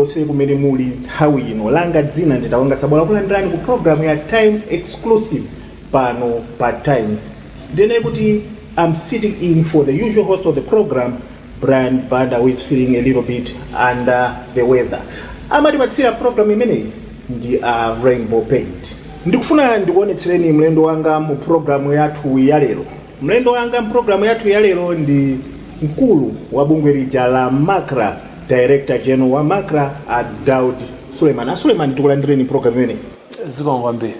konse kumene muli nthawi ino langa dzina ndi Tawonga Sabola kulandirani ku programu ya time exclusive pano pa times ndinene kuti i'm sitting in for the usual host of the program brian banda who is feeling a little bit under the weather amatipatsira programu imeneyi ndi a uh, rainbow paint ndikufuna ndikuonetsereni mlendo wanga mu programu yathu ya lero Mlendo wanga m'programu yathu ya lero ndi mkulu wa bungwe lija la macra, Director General wa macra, a Daud Suleman. A Suleman, tikulandireni m'programu imeneyi. Zikomo kwambiri.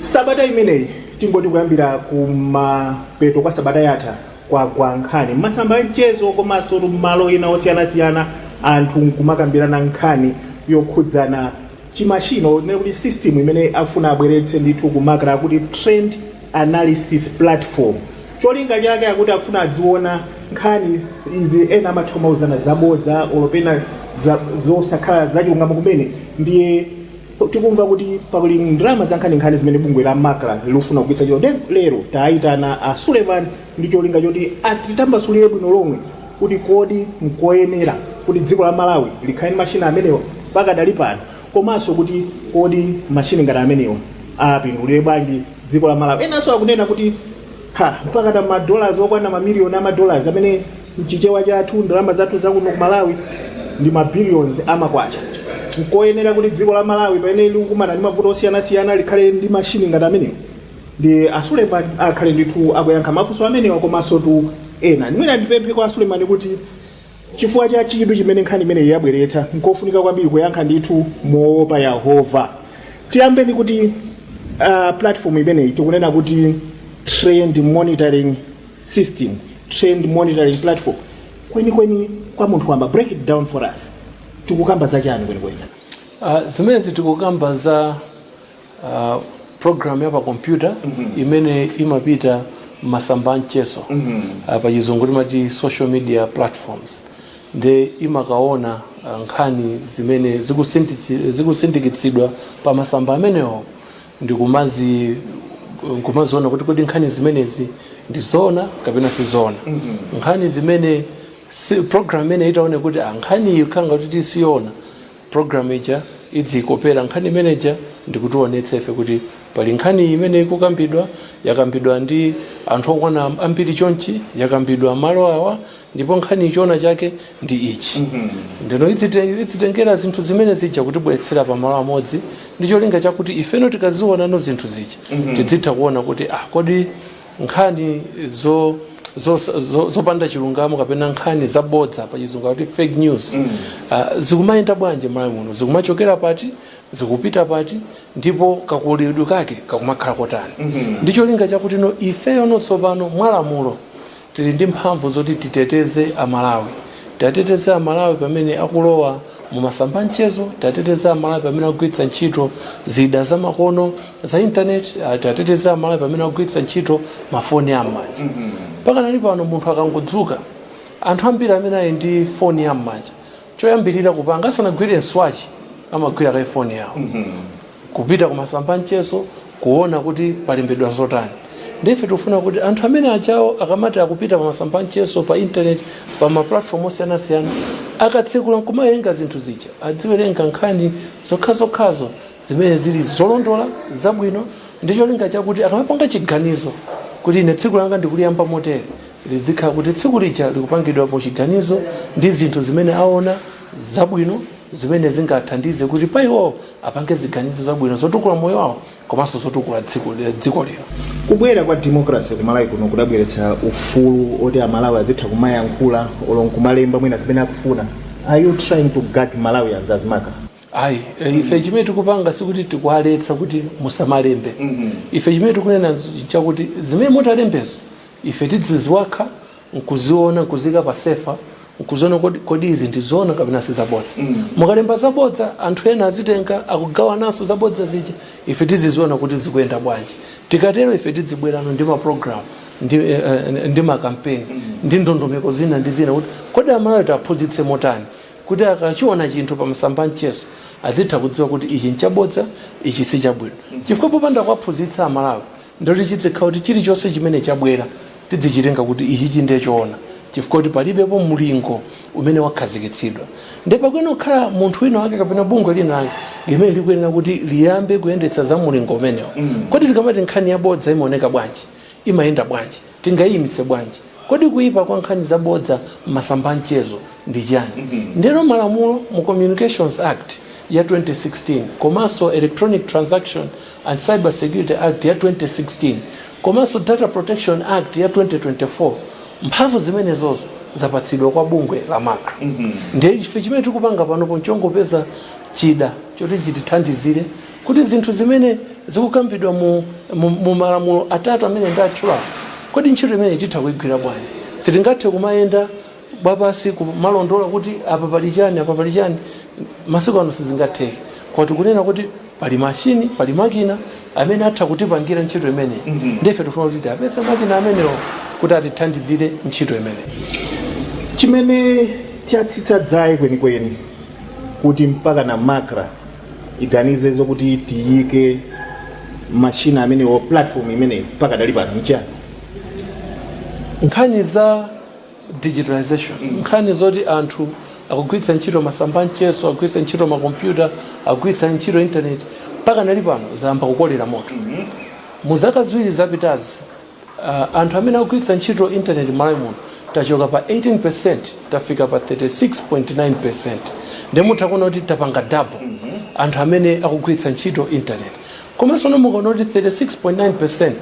Sabata imeneyi, tingoti kuyambira kumapeto kwa sabata yatha, kwagwa nkhani m'masamba a mchezo komanso m'malo ena osiyanasiyana, anthu n'kumakambirana nkhani yokhudzana chimashini tinene kuti system imene akufuna abweretse ndithu ku macra akuti trend analysis platform cholinga chake akuti akufuna adziona nkhani izi ena amatha kumauzana zabodza olo pena zosakhala zachilungamo kumene ndiye tikumva kuti pali ndalama zankhaninkhani zimene bungwe la macra likufuna kugwiritsa ntchito ndiye lero tayitana a suleman ndi cholinga choti atitambasulire bwino lomwe kuti kodi n'koyenera kuti dziko la Malawi likhale ndi mashini amenewa pakadali pano komanso kuti kodi mashini ngati amenewa apindulire bwanji dziko la Malawi. Enanso akunena kuti ha, mpakana ma dollars okwana ma million ama dollars amene mchichewa chathu ndalama zathu za kuno ku Malawi ndi ma billions ama kwacha. N'koyenera kuti dziko la Malawi pamene likukumana ndi mavuto osiyanasiyana likhale ndi mashini ngati amenewa. Ndi a Suleman akhale ndithu akuyankha mafunso amenewa komansotu ena. Mwina ndipemphe kwa a Suleman kuti chifukwa cha chidwi chimene nkhani imeneyi yabweretsa, nkofunika kwambiri kuyankha ndithu moopa Yehova. Tiyambe ndi kuti uh, platform imeneyi tikunena kuti trend monitoring system, trend monitoring platform. Kwenikweni kwa munthu wamba, break it down for us. Tikukamba za chani kwenikweni? Uh, zimenezi tikukamba za uh, program ya pa kompyuta imene imapita masamba a mchezo uh, pa chizungu timati social media platforms nde imakaona uh, nkhani zimene zikusinditsi- zikusindikitsidwa pa masamba amenewo ndikumazi nkumaziona kuti kodi nkhani zimenezi ndi zoona kapena si zoona nkhani zimene si, program imene itaone kuti ah, nkhani iyi khanga kuti tisiona Program ija idziikopera nkhani imene ija ndikutiwonetsa ife kuti pali nkhani iyi imene ikukambidwa, yakambidwa ndi anthu okwana ambiri chonchi, yakambidwa malo awa ndipo nkhaniyi choona chake ndi ichi. Ndeno idzite- idzitengera zinthu zimene zija kutibweretsera pamalo amodzi ndi cholinga chakuti ifeno tikaziwonano zinthu zija tidzitha kuona kuti ah, kodi nkhani zopanda chilungamo kapena nkhani zabodza pa chizungu kuti fake news mm. uh, zikumayenda bwanji m'Malawi muno zikumachokera pati zikupita pati ndipo kakulidwe kake kakumakhala kotani mm -hmm. ndi cholinga chakuti no ifeyo no tsopano mwalamulo tili ndi mphamvu zoti titeteze amalawi tiateteze amalawi pamene akulowa Mu masamba a mchezo, tiateteze Amalawi pamene akugwiritsa ntchito zida za makono za intaneti, ah, tiateteze Amalawi pamene akugwiritsa ntchito mafoni a m'manja. Pakanali pano munthu akangodzuka, anthu ambiri amene ali ndi foni ya m'manja, choyambirira kupanga asanagwire nswachi amagwira kaye foni yawo. kupita kumasamba amchezo kuona kuti palembedwa zotani nde ife tikufuna kuti anthu amenewa achawo akamati akupita pamasamba amchezo pa intaneti pa maplatform osiyanasiyana akatsekula nkumawerenga zinthu zija adziwerenga nkhani zokhazokhazo zimene zili zolondola zabwino ndi cholinga chakuti akamapanga chiganizo kuti ine tsiku langa ndikuliyamba motere lizikhala kuti tsiku lija likupangidwa mu chiganizo ndi zinthu zimene aona zabwino zimene zingathandize kuti pa iwowo apange ziganizo zabwino zotukula moyo wawo komanso zotukula dziko lero. Kubwera kwa democracy ku Malawi kuno kudabweretsa ufulu oti a Malawi adzitha kumayankhula olo nkumalemba mwina zimene akufuna, are you trying to gag Malawians as MACRA? Ayi, eh, ife chimene tikupanga sikuti tikuwaletsa kuti musamalembe. Ife chimene tikunena nz- chakuti zimene mutalembezo ife tidziziwakha nkuziona nkuziika pa sefa nkuziona kodi, kodi izi ndi zoona kapena si zabodza mm. mukalemba zabodza anthu ena azitenga akugawananso zabodza zija ife tiziziona kuti zikuyenda bwanji tikatero ife tidzibwerano ndi maprogramu ndi, eh, eh, ndi makampeni mm. ndi ndondomeko zina ndi zina kuti kodi amalawi tiaphunzitse motani kuti akachiona chinthu pa masamba a mchezo azitha kudziwa kuti ichi nchabodza ichi si chabwino mm. chifukwa popanda kuwaphunzitsa amalawi Ndoti chidzikhala kuti chilichonse chimene chabwera tidzichitenga kuti ichichi ndiye choona chifukwa kuti palibepo mulingo umene wakhazikitsidwa ndiye pakuyenera kukhala munthu wina wake kapena bungwe lina lake limene likuyenera kuti liyambe kuyendetsa za mulingo umenewo. Kodi tikamati nkhani yabodza imaoneka bwanji? Imayenda bwanji? Tingaiimitse bwanji? Kodi kuipa kwa nkhani zabodza m'masamba a mchezo ndi chiyani? Ndiyeno malamulo mu Communications Act ya 2016 komanso Electronic Transaction and Cyber Security Act ya 2016 komanso Data Protection Act ya 2024, mphamvu zimenezozo zapatsidwa kwa bungwe la macra. Ndiye ife chimene tikupanga panopo n'chongopeza chida choti chitithandizire Kodi zinthu zimene zikukambidwa mu, mu, mu malamulo atatu amene ndatchulawo, kodi ntchito imeneyi titha kuigwira bwanji? Sitingathe kumayenda wapansi kumalondola kuti apa pali chani, apa pali chani. Masiku ano sizingatheke, koma tikunena kuti pali mashini, pali makina amene atha kutipangira ntchito imeneyi. Ndiye ife tifuna kuti tiwapeze makina amenewo kuti atithandizire ntchito imeneyi. Chimene chatsitsa dzaye kwenikweni kuti mpaka na Macra iganize zokuti tiyike mashini amenewo platform imeneyi pakadali pano nchani nkhani za digitalization nkhani zoti anthu akugwiritsa ntchito masamba anchezo akugwiritsa ntchito makompyuta akugwiritsa ntchito intaneti pakadali pano zayamba kukolera moto mu zaka ziwiri zapitazi Anthu amene akugwiritsa ntchito internet m'Malawi muno tachoka pa 18% tafika pa 36.9% nde mutha kuona kuti tapanga double anthu amene akugwiritsa ntchito internet komanso no mukaona kuti 36.9%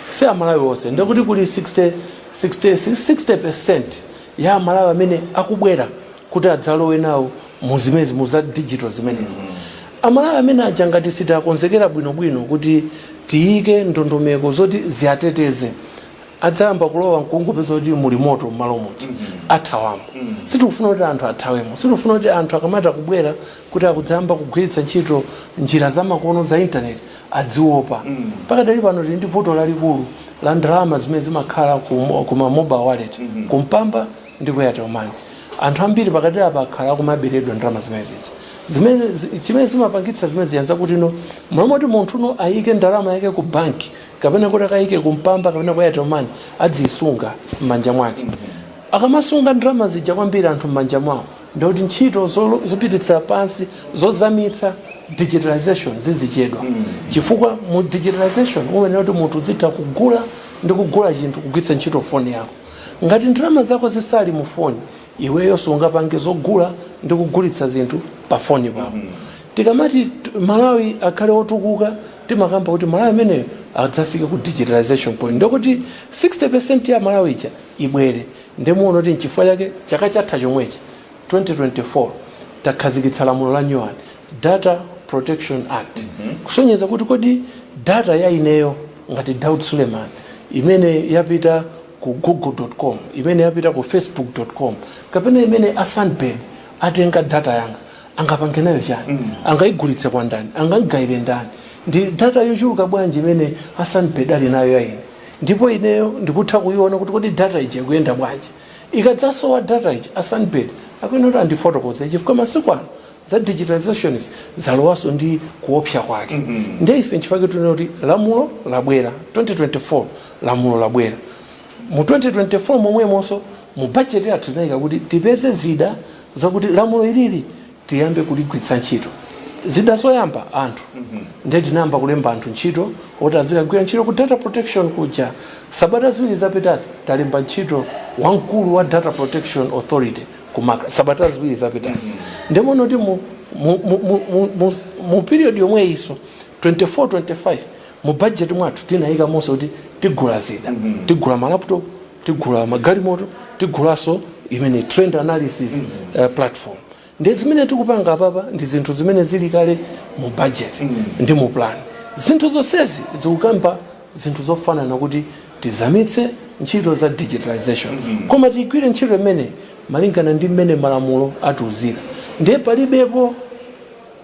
si amalawi onse ndekuti kuli 60, 60, 60% ya amalawi amene akubwera kuti adzalowe nawo mu zimenezi mu za digital zimenezi amalawi amenewaja ngati sitakonzekera bwinobwino kuti tiyike ndondomeko zoti ziwateteze adzayamba kulowa nkungopeza kuti muli moto mmalo moti athawamo sitikufuna kuti anthu athawemo sitikufuna kuti anthu akamati akubwera kuti akudzayamba kugwiritsa ntchito njira zamakono za intaneti adziopa pakadali pano tili ndi vuto lalikulu la ndalama zimene zimakhala ku, ku ma mobile wallet kumpamba ndi ku airtel money anthu ambiri pakadali apa akhala akumaberedwa ndalama zimene zija zimene zi- chimene zimapangitsa zimene zija nzakuti no m'malo moti munthu no ayike ndalama yake ku banki kapena kuti akayike ku mpamba kapena ku airtel money adziyisunga m'manja mwake akamasunga ndalama zija kwambiri anthu m'manja mwawo ndikuti ntchito zolo- zopititsa pansi zozamitsa digitalization zizichedwa chifukwa mu digitalization umayenera kuti munthu udzitha kugula ndi kugula chinthu kugwiritsa ntchito foni yako Ngati ndalama zako zisali mu foni, iweyo sungapange zogula ndi kugulitsa zinthu pa foni pako. Tikamati Malawi akhale otukuka, timakamba kuti Malawi ameneyo adzafike ku digitalization point ndekuti 60% ya Amalawi ija ibwere. Nde muona kuti nchifukwa chake chaka chatha chomwechi, 2024, takhazikitsa lamulo la nyuwani, Data Protection Act, kusonyeza kuti kodi data ya ineyo, ngati Daud Suleiman imene yapita ku google.com imene yapita ku facebook.com kapena imene a Sunbird atenga data yanga angapange nayo chani angaigulitse kwa ndani angaigayire ndani ndi data yochuluka bwanji imene a Sunbird ali nayo ya ine ndipo ineyo ndikutha kuiona kuti kodi data iyi ikuyenda bwanji ikadzasowa data ija a Sunbird akuyenera kuti andifotokoze chifukwa masiku ano za digitalization zalowaso ndi kuopsa kwake mm -hmm. nde ife nchifukwa chake tunena kuti lamulo labwera 2024 lamulo labwera mu 2024 momwemonso mu budget yathu tinayika kuti tipeze zida zakuti lamulo ilili tiyambe kuligwiritsa ntchito zida zoyamba anthu mm -hmm. nde tinayamba kulemba anthu ntchito oti azikagwira ntchito ku data protection kuja sabata ziwiri zapitazi talemba ntchito wamkulu wa data protection authority ku Macra sabata ziwiri zapitazi nde muona kuti mu, mu, mu, mu, mu, mu, mu period yomweyiso 24 25 mu budget mwathu tinayikamonso kuti tigula zida tigula malaptop tigula magalimoto tigulanso imene trend analysis uh, platform nde zimene tikupanga apapa ndi zinthu zimene zili kale mu budget ndi mu plan zinthu zonsezi zikukamba zinthu zofanana kuti tizamitse ntchito za digitalisation koma tigwire ntchito imeneyi malingana ndi mmene malamulo atiuzira ndiye palibepo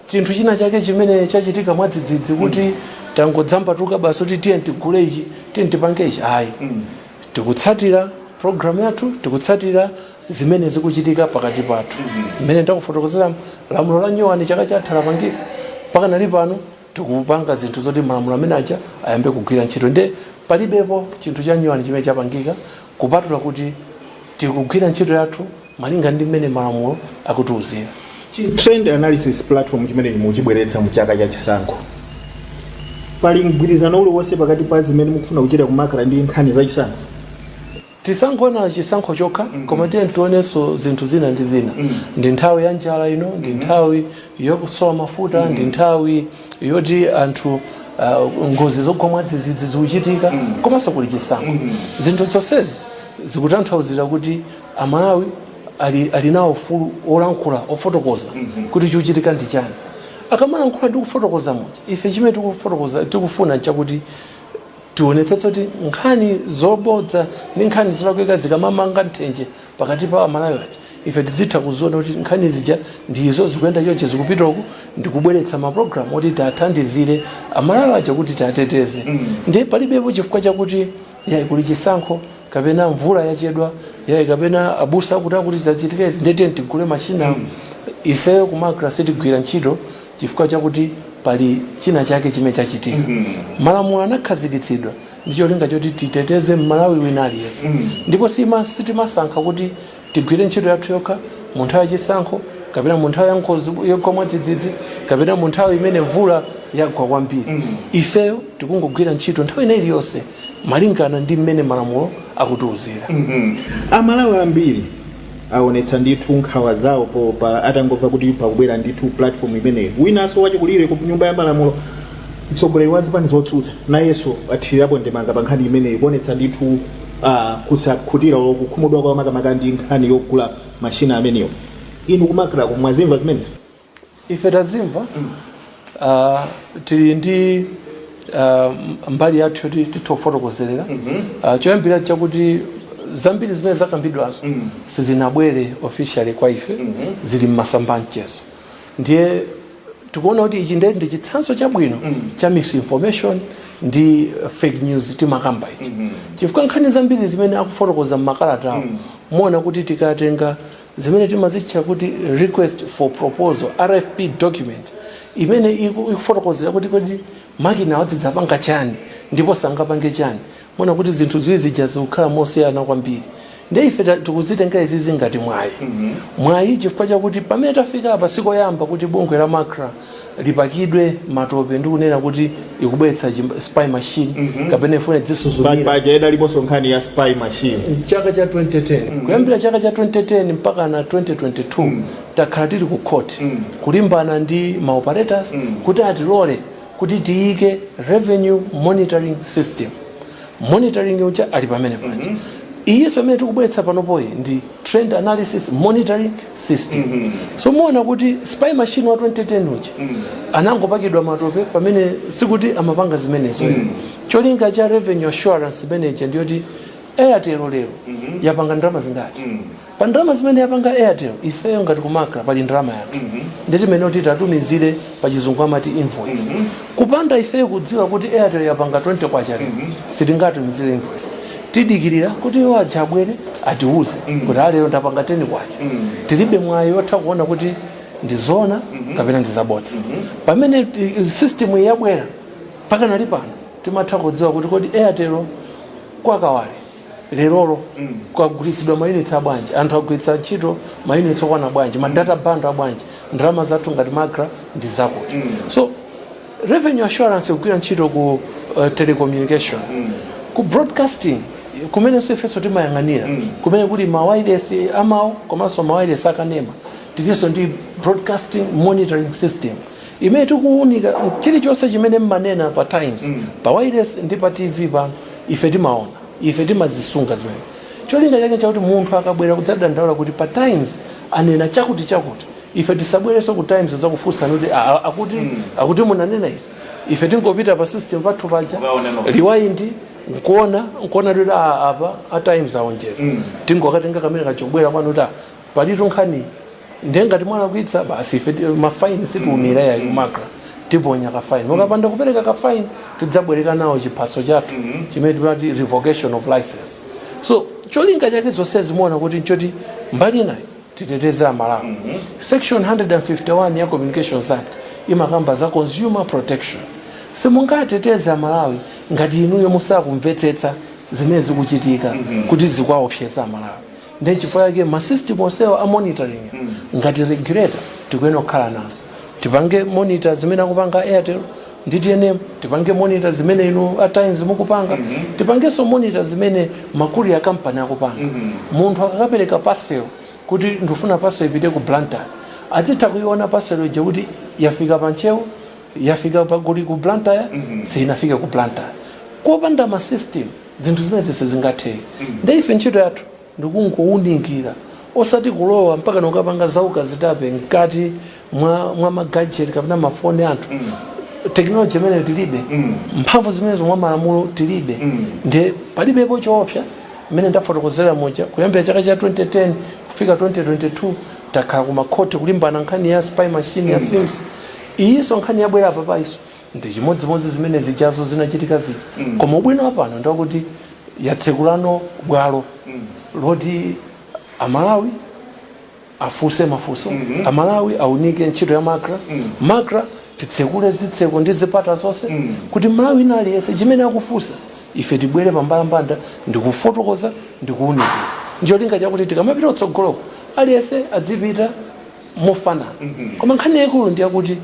chinthu china chake chimene chachitika mwadzidzidzi kuti tangodzambatuka basi kuti tiye tigule ichi tiye tipange ichi ayi tikutsatira programu yathu tikutsatira zimene zikuchitika pakati pathu mmene ndakufotokozera lamulo la nyowani chaka chatha lapangika mpaka nali pano tikupanga zinthu zoti malamulo amene aja ayambe kugwira ntchito nde palibepo chinthu chanyuwani chimene chapangika kupatula kuti tikugwira ntchito yathu malinga ndi mmene malamulo akutiuzira trend analysis platform chimene muchibweretsa mu chaka cha chisankho pali mgwirizano uliwonse pakati pa zimene mukufuna kuchita ku Macra ndi nkhani za chisankho Tisangoona chisankho chokha koma tiyeni tionenso zinthu zina ndi zina. Ndi nthawi ya njala ino, ndi nthawi yokusowa mafuta, ndi nthawi yoti anthu uh, ngozi zogwa mwadzidzidzi zikuchitika komanso kuli chisankho. Zinthu zonsezi zikutanthauzira kuti Amalawi ali, ali nawo ufulu wolankhula ofotokoza kuti chikuchitika ndi chani. Akamalankhula ndi kufotokoza muja, ife chimene tikufuna nchakuti Tionetsetse kuti nkhani zobodza ndi nkhani zolakwika zikamamanga nthenje pakati pa Amalawi aja, ife tidzitha kuziona kuti nkhani zija ndi izo, zikuyenda chonchi, zikupita uku, ndi kubweretsa mapulogalamu oti tiathandizire Amalawi aja kuti tiateteze. Ndiye palibepo chifukwa chakuti yayi kuli chisankho kapena mvula yachedwa, yayi kapena abusa akuti akuti zachitika izi ndiye tiyeni tigule mashini awa. Ifeyo ku Macra sitigwira ntchito chifukwa chakuti pali china chake chimene chachitika mm -hmm. malamulo anakhazikitsidwa ndi cholinga choti titeteze mmalawi wina aliyense mm -hmm. ndipo sitimasankha kuti tigwire ntchito yathu yokha mu nthawi yachisankho kapena mu nthawi ya ngozi yogwa mwadzidzidzi kapena mu nthawi imene mvula yagwa kwambiri mm -hmm. ifeyo tikungogwira ntchito nthawi ina iliyonse malingana ndi mmene malamulo akutiuzira mm -hmm. amalawi ambiri awonetsa ndithu nkhawa zawo po pa atangomva kuti pakubwera ndithu platform imeneyi winanso wachikulire ku nyumba ya malamulo mtsogoleri wa zipani zotsutsa nayenso athirirapo ndemanga pa nkhani imeneyi kuonetsa ndithu uh, kusakhutira olo kukhumudwa kwawo makamaka ndi nkhani yogula mashina amenewo inu ku macra ko mwazimva zimenezi ife tazimva uh, tili ndi uh, mbali yathu yoti tithe kufotokozera uh, choyambira chakuti zambiri zimene zakambidwazo sizinabwere officially kwa ife zili mmasamba a mchezo ndiye tikuona kuti ichi ndiye ndi chitsanzo chabwino cha misinformation ndi uh, fake news timakamba ichi chifukwa nkhani zambiri zimene akufotokoza mmakalatawo muona kuti tikatenga zimene timazitcha kuti request for proposal rfp document imene iku- ikufotokozera kuti kodi makina awa adzidzapanga chani ndipo sangapange chani muona kuti zinthu ziwiri zija zikukhala mosiyana kwambiri nde ife ta- tikuzitenga izizi ngati mwayi mwayi chifukwa chakuti pamene tafika apa sikoyamba kuti bungwe la macra lipakidwe matope ndi kunena kuti ikubweretsa chim- spy machine kapena ifuna idzisuzumira paja idaliposo nkhani ya spy machine chaka cha 2010 kuyambira chaka cha 2010 mpaka na 2022 takhala tili ku court kulimbana ndi ma operators kuti atilole kuti tiyike revenue monitoring system monitoring uja ali pamene paja iyinso imene tikubweretsa panopoyi ndi trend analysis monitoring system so muona kuti spy machine wa 2010 uja anangopakidwa matope pamene sikuti amapanga zimenezo cholinga cha revenue assurance manager ndiyoti airtel lero yapanga ndalama zingati pa ndalama zimene yapanga airtel ifeyo ngati ku macra pali ndalama yathu nde timanena kuti tatumizire pachizungu amati invoice mm -hmm. kupanda ifeyo kudziwa kuti airtel yapanga 20 kwacha mm -hmm. sitingatumizire invoice tidikirira kuti iwo aja abwere atiuze mm -hmm. kuti alero ndapanga 10 kwacha mm -hmm. tilibe mwayi wotha kuona kuti ndizoona mm -hmm. kapena ndizabodza mm -hmm. pamene eh, system yabwera pakanali pano timatha kudziwa kuti kodi airtel kwa kawale lerolo kwagulitsidwa mayunitsi abwanji anthu agwiritsa ntchito mayunitsi okwana bwanji ma data bundle abwanji ndalama zathu ngati macra ndi zakuti so revenue assurance ikugwira ntchito ku uh, telecommunication ku broadcasting kumenenso ifenso timayang'anira kumene kuli mawailesi amawu komanso mawailesi akanema tilinso ndi broadcasting monitoring system imene tikuwunika chilichonse chimene mmanena pa times mm. pa wireless ndi pa tv pano ife timaona ife timazisunga zimene cholinga chake chakuti munthu akabwera kudzadandaula kuti pa times anena chakuti chakuti ife tisabwerenso ku times kudzakufunsa kuti akuti mm. akuti munanena izi ife tingopita pa system pathu paja rewind nkuona nkuona kuti apa a times aonjeza mm. tingokatenga kamene kachobwera kwanu kuti palitu nkhani ndiye ngati mwalakwitsa basi ife ti- mafaini sitiwumira yayi macra tiponya kafaini mukapanda kupereka kafaini tidzabwerekanawo chiphaso chathu chimene timati revocation of license so cholinga chake zonse zimuona kuti nchoti mbali inayo titeteze amalawi section 151 ya communications act imakamba za consumer protection simungateteze amalawi ngati inuyo musakumvetsetsa zimene zikuchitika kuti zikuwaopseza amalawi ndiye chifukwa chake ma system onsewa a monitoring ngati regulator tikuyenera kukhala nazo tipange monitor zimene akupanga airtel ndi tnm tipange monitor zimene inu a times mukupanga tipangenso monitor zimene ma courier kampani akupanga munthu akakapereka parcel kuti ndifuna parcel ipite ku blantyre azitha kuiona parcel ija kuti yafika pa ntcheu yafika pa goliati ku blantyre sinafike ku blantyre kopanda ma system zinthu zimenezi sizingatheke nde ife ntchito yathu ndikungowunikira osati kulowa mpaka nokapanga zaukazitape mkati mwa, mwa magajeti kapena mafoni a anthu tekinoloji imeneyo tilibe mphamvu zimenezo mwa malamulo tilibe nde palibepo choopsa mmene ndafotokozera muja kuyambira chaka cha 2010 kufika 2022 takhala ku makhoti kulimbana nkhani ya spy machine ya cirms iyinso nkhani yabwera apa paiso ndichimodzimodzi zimene zijazo zinachitika zija mm. koma ubwino wapano ndiwakuti yatsekulano bwalo mm. loti amalawi afunse mafunso mm -hmm. amalawi aunike ntchito ya macra mm. macra titsekule zitseko ndi zipata zonse mm. kuti mmalawi wina aliyense chimene akufunsa ife tibwere pambalambanda ndikufotokoza ndikuunikira ncholinga chakuti tikamapita kutsogoloko aliyense adzipita mofanana mm -hmm. koma nkhani yaikulu ndiyakuti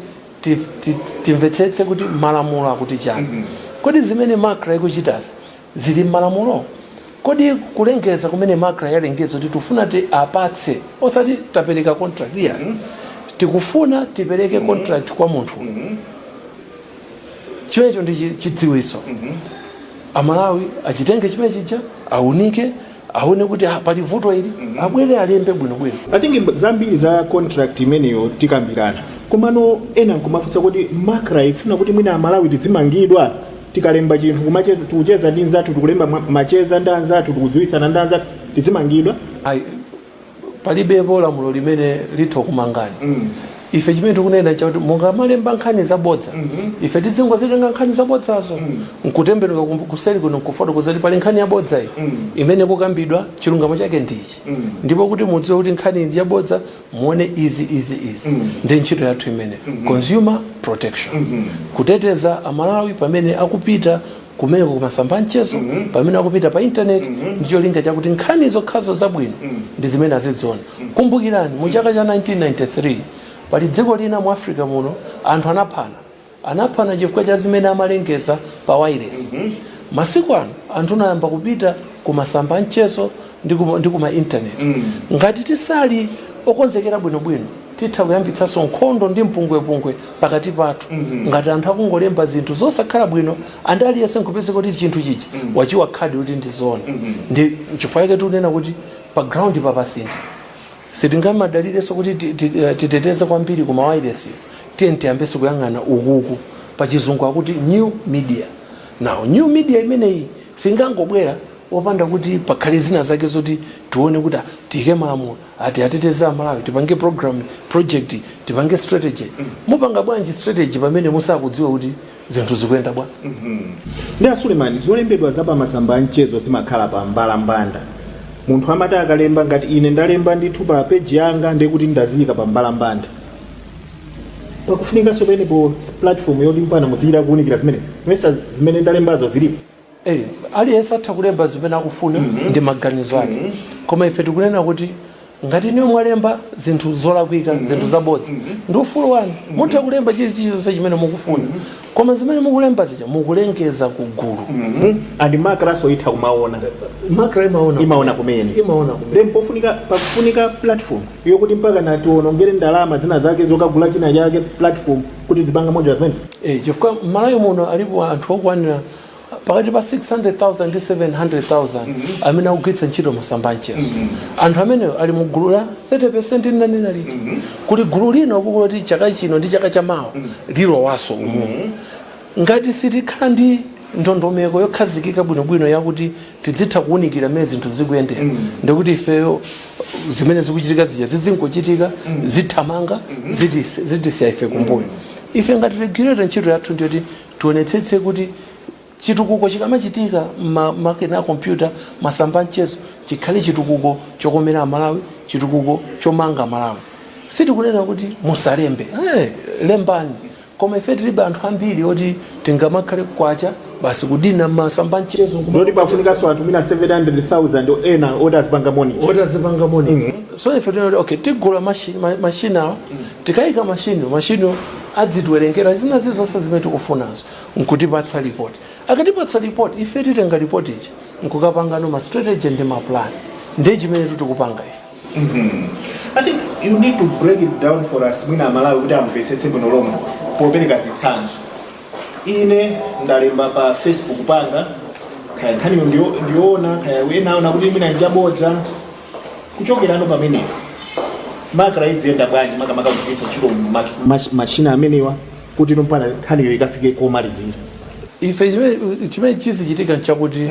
ti- ti- timvetsetse kuti malamulo akuti chani kodi zimene macra ikuchitazi zili mmalamulo kodi kulengeza kumene macra yalengeza kuti tifuna tiwapatse osati tapereka contract iyayi tikufuna tipereke contract kwa munthu chimenecho ndi chi- chidziwitso amalawi achitenge chimene chija aunike aone kuti ah, pali vuto ili abwere alembe bwinobwino i think mb- zambiri za contract imeneyo tikambirana komano ena nkumafunsa kuti macra ikufuna kuti mwina amalawi tidzimangidwa tikalemba chinthu kumacheza- tikucheza ndi nzathu tikulemba ma- macheza ndi anzathu tikudziwitsana ndi anzathu tidzimangidwa I, palibepo lamulo limene litha kumangani mm. ife chimene tikunena n'chakuti mungamalemba nkhani zabodza mm -hmm. ife tidzingozitenga nkhani zabodzazo mm. nkutembenuka kuseri kuno nkufotokoza kuti pali nkhani yabodza iyi mm. imene kukambidwa chilungamo chake ndichi mm. ndipo kuti mudziwe kuti nkhani iyi yabodza muone izi izi izi mm. ndi ntchito yathu imene mm -hmm. consumer protection mm -hmm. kuteteza amalawi pamene akupita kumeneko kumasamba amchezo mm -hmm. pamene akupita pa intaneti mm -hmm. ndicholinga chakuti nkhani zokhazo zabwino mm -hmm. ndi zimene aziziona mm -hmm. kumbukirani mu chaka cha 1993 pali dziko lina mu africa muno anthu anaphana anaphana chifukwa cha zimene amalengeza pa wireless mm -hmm. masiku ano anthu anayamba kupita kumasamba amchezo ndi kuma, ndi kuma intaneti mm -hmm. ngati tisakhale okonzekera bwinobwino titha kuyambitsanso nkhondo ndi mpungwepungwe pakati pathu ngati anthu akungolemba zinthu zosakhala bwino and aliyense nkupezeka kuti chinthu chija wachiona akuti kuti ndi zona ndi chifukwa chake tikunena kuti pa ground papa pasintha sitingamadalirenso kuti ti- ti- eh, titeteze kwambiri ku mawayilesi tiye- tiyambenso kuyang'ana ukoku pa chizungu akuti new media now new media imeneyi singangobwera opanda kuti pakhale zina zake zoti tione kuti ah, tiyike malamulo oti ateteze amalawi tipange program project tipange strategy mupanga bwanji strategy pamene musakudziwa kuti zinthu zikuyenda bwa- koma a sulemani zolembedwa za pamasamba a mchezo zimakhala pa mbalambanda munthu amati akalemba ngati ine ndalemba ndithu pa peji yanga ndekuti ndaziyika pa mbalambanda pakufunikanso penepo platform yoti mpaka muzichita kuwunikira zimenezi mesa zimene ndalembazo zilipo Eh, aliyense atha kulemba zimene akufuna mm -hmm. ndi maganizo ake mm -hmm. koma ife tikunena kuti ngati inuyo mwalemba zinthu zolakwika mm -hmm. zinthu zabodza mm -hmm. ndi ufulu wanu mm -hmm. mutha kulemba chilichonse chimene mukufuna mm -hmm. koma zimene mukulemba zija mukulengeza ku gulu mm -hmm. and macranso itha kumaona macra imaona imaona kumene imaona kumene then pofunika pakufunika platform yokuti mpaka mutiwonongere ndalama zina zake zokagula china chake platform kuti muzipanga monitor zimene Eh, chifukwa mmalawi muno alipo anthu okwanira pakati pa 600,000 ndi 700,000 amene akugwiritsa ntchito masamba amchezo anthu amenewo ali mu gulu la 30 ndinanena lija kuli gulu lina ukoku loti chaka chino ndi chaka cha mawa lilowanso umumu ngati sitikhala ndi ndondomeko yokhazikika bwinobwino yakuti tidzitha kuwunikira mmene zinthu zikuyendera mm. ndekuti ifeyo zimene zikuchitika zija zizingochitika mm. zithamanga mm -hmm. zitisiya ife kumbuyo mm. ife ngati regulator ntchito yathu ndiyoti tionetsetse kuti chitukuko chikamachitika makina a kompyuta masamba amchezo chikhale chitukuko chokomera amalawi chitukuko chomanga malawi sitikunena kuti musalembe hey, eh, lembani koma ife tilibe anthu ambiri oti tingamakhale kwacha basi kudina masamba a mchezo nkuma- ndoti pafunikanso anthu mwina 700000 ena oti azipanga monitor oti azipanga monitor so ife tinati okay tigula machi- ma- machini awa tikayika machini machini adzitiwerengera zina zili zonse zimene tikufunazo nkutipatsa report akatipatsa report ife titenga report ija nkukapangano ma strategy ndi ma plan ndiye chimene tikupanga ife I think you need to break it down for us mwina amalawi kuti amvetsetse bwino lomwe popereka zitsanzo ine ndalemba pa facebook panga kaya nkhaniyo ndiyo- ndiyoona kaya enaona kuti mwina njabodza kuchokerano pamenepo Macra idziyenda bwanji makamaka kugwiritsa ntchito ma- ma- machina amenewa kuti mpakana nkhaniyo ikafike komalizira ife chimene- chimene chizichitika nchakuti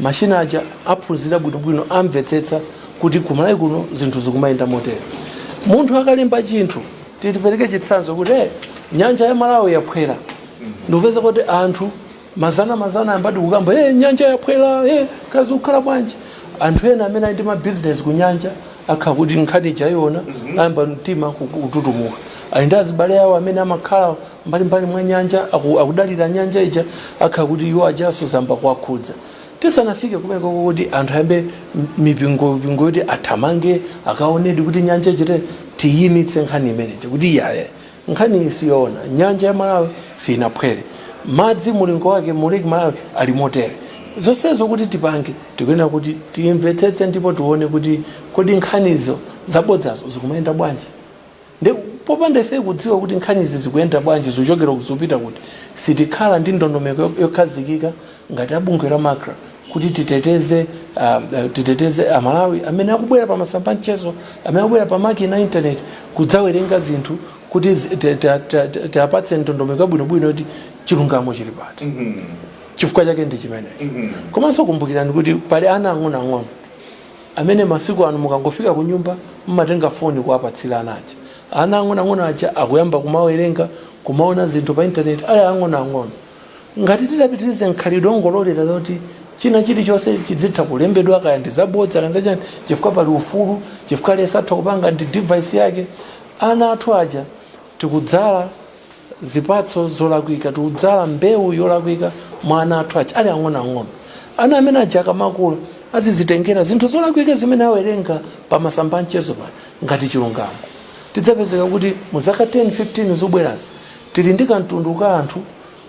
Machine aja aphunzira bwinobwino amvetsetsa kuti ku Malawi kuno zinthu zikumayenda motere. Munthu akalemba chinthu tipereke chitsanzo kuti eh, nyanja ya Malawi yaphwera ndikupezeka kuti anthu mazana mazana ayambadi kukamba eh, nyanja yaphwera eh, kaya zikukhala bwanji anthu ena amene ali ndi mabizinesi ku nyanja akhala kuti nkhani ija aiona ayamba mtima kututumuka ali ndi azibale awo amene amakhala mbalimbali mwa nyanja aku- akudalira nyanja ija akhala kuti iwo ajaso zayamba kuwakhudza tisanafike kumeneko kuti anthu ayambe m- mipingo mipingo yoti athamange akaonedi kuti nyanja ija eti tiyimitse nkhani imeneyi kuti iyaye nkhani iyi siyoona nyanja ya malawi sinaphwere madzi mulingo wake mu lake malawi ali motere zonsezo kuti tipange tikuyenera kuti tiyimvetsetse ndipo tione kuti kodi nkhanizo zabodzazo zikumayenda bwanji Nde popanda ifeyo kudziwa kuti nkhanizi zikuyenda bwanji, zikuchokera kuti zikupita kuti, sitikhala ndi ndondomeko yokhazikika ngati a bungwe la macra kuti titeteze titeteze a Malawi amene akubwera pa masamba a mchezo, amene akubwera pa makina a internet kudzawerenga zinthu kuti tiwapatse ndondomeko yabwinobwino yoti chilungamo chili pati. Chifukwa chake ndi chimenecho. Komanso kumbukirani kuti pali ana ang'onoang'ono. amene masiku ano mukangofika kunyumba mumatenga foni kuwapatsira ana aja ana ang'onoang'ono aja akuyamba kumawerenga kumaona zinthu pa intaneti ali ang'onoang'ono ngati titapitirize mkhalidwe ongololera zoti china chilichonse chidzitha kulembedwa kaya ndi zabodza kaya ndi zachani chifukwa pali ufulu chifukwa aliyense atha kupanga ndi device yake ana athu aja tikudzala zipatso zolakwika tikudzala mbewu yolakwika mwa ana athu aja ali ang'onoang'ono ana amene aja aja akamakula azizitengera zinthu zolakwika zimene awerenga pa masamba a mchezo pano ngati chilungamo tidzapezeka kuti mu zaka 10 15 zobwerazi tili ndi kamtundu ka anthu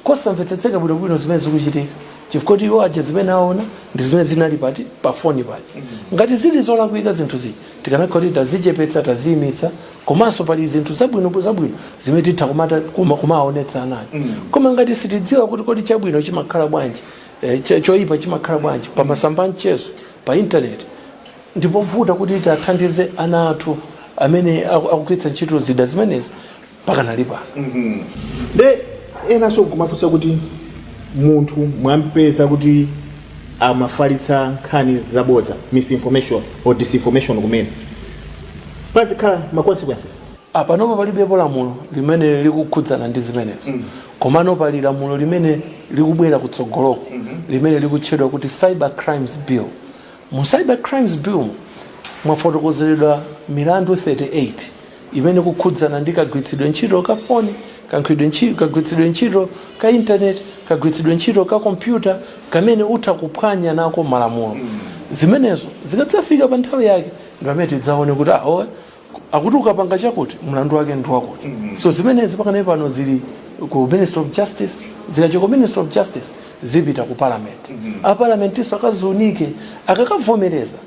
kosamvetsetseka bwinobwino zimene zikuchitika chifukwa kuti iwo aja zimene aona ndi zimene zinali pati pa foni paja ngati zili zolakwika zinthu zija tikanakhala kuti tazichepetsa taziyimitsa komanso pali zinthu zabwino zabwino zimene titha kumata- kuma- kumaonetsa anayo koma ngati sitidziwa kuti kodi chabwino chimakhala bwanji eh, cho- choyipa chimakhala bwanji pa masamba a mchezo pa intaneti ndipovuta kuti tiwathandize ana athu amene aku- akugwiritsa ntchito zida zimenezi pakanali pano nde enanso nkumafunsa kuti munthu mwampeza kuti amafalitsa nkhani zabodza misinformation or disinformation kumene pazikhala ma consequences panopa palibepo lamulo limene likukhudzana ndi zimenezo komano pali lamulo limene likubwera kutsogoloko limene likutchedwa kuti cyber crimes bill mu cyber crimes bill mwafotokozeredwa milandu 38 imene kukhudzana ndi kagwiritsidwe ntchito ka foni kagwiritsidwe ntchito kagwiritsidwe ntchito ka intaneti kagwiritsidwe ntchito ka kompyuta kamene utha kuphwanya nako malamulo zimenezo zikadzafika pa nthawi yake ndi pamene tidzaone kuti ahowe akuti ukapanga chakuti mlandu wake ndi wakuti so zimenezi pakanali pano zili ku ministry of justice zikachoka ku ministry of justice zipita ku parliament aparlamentinso akaziunike akakavomereza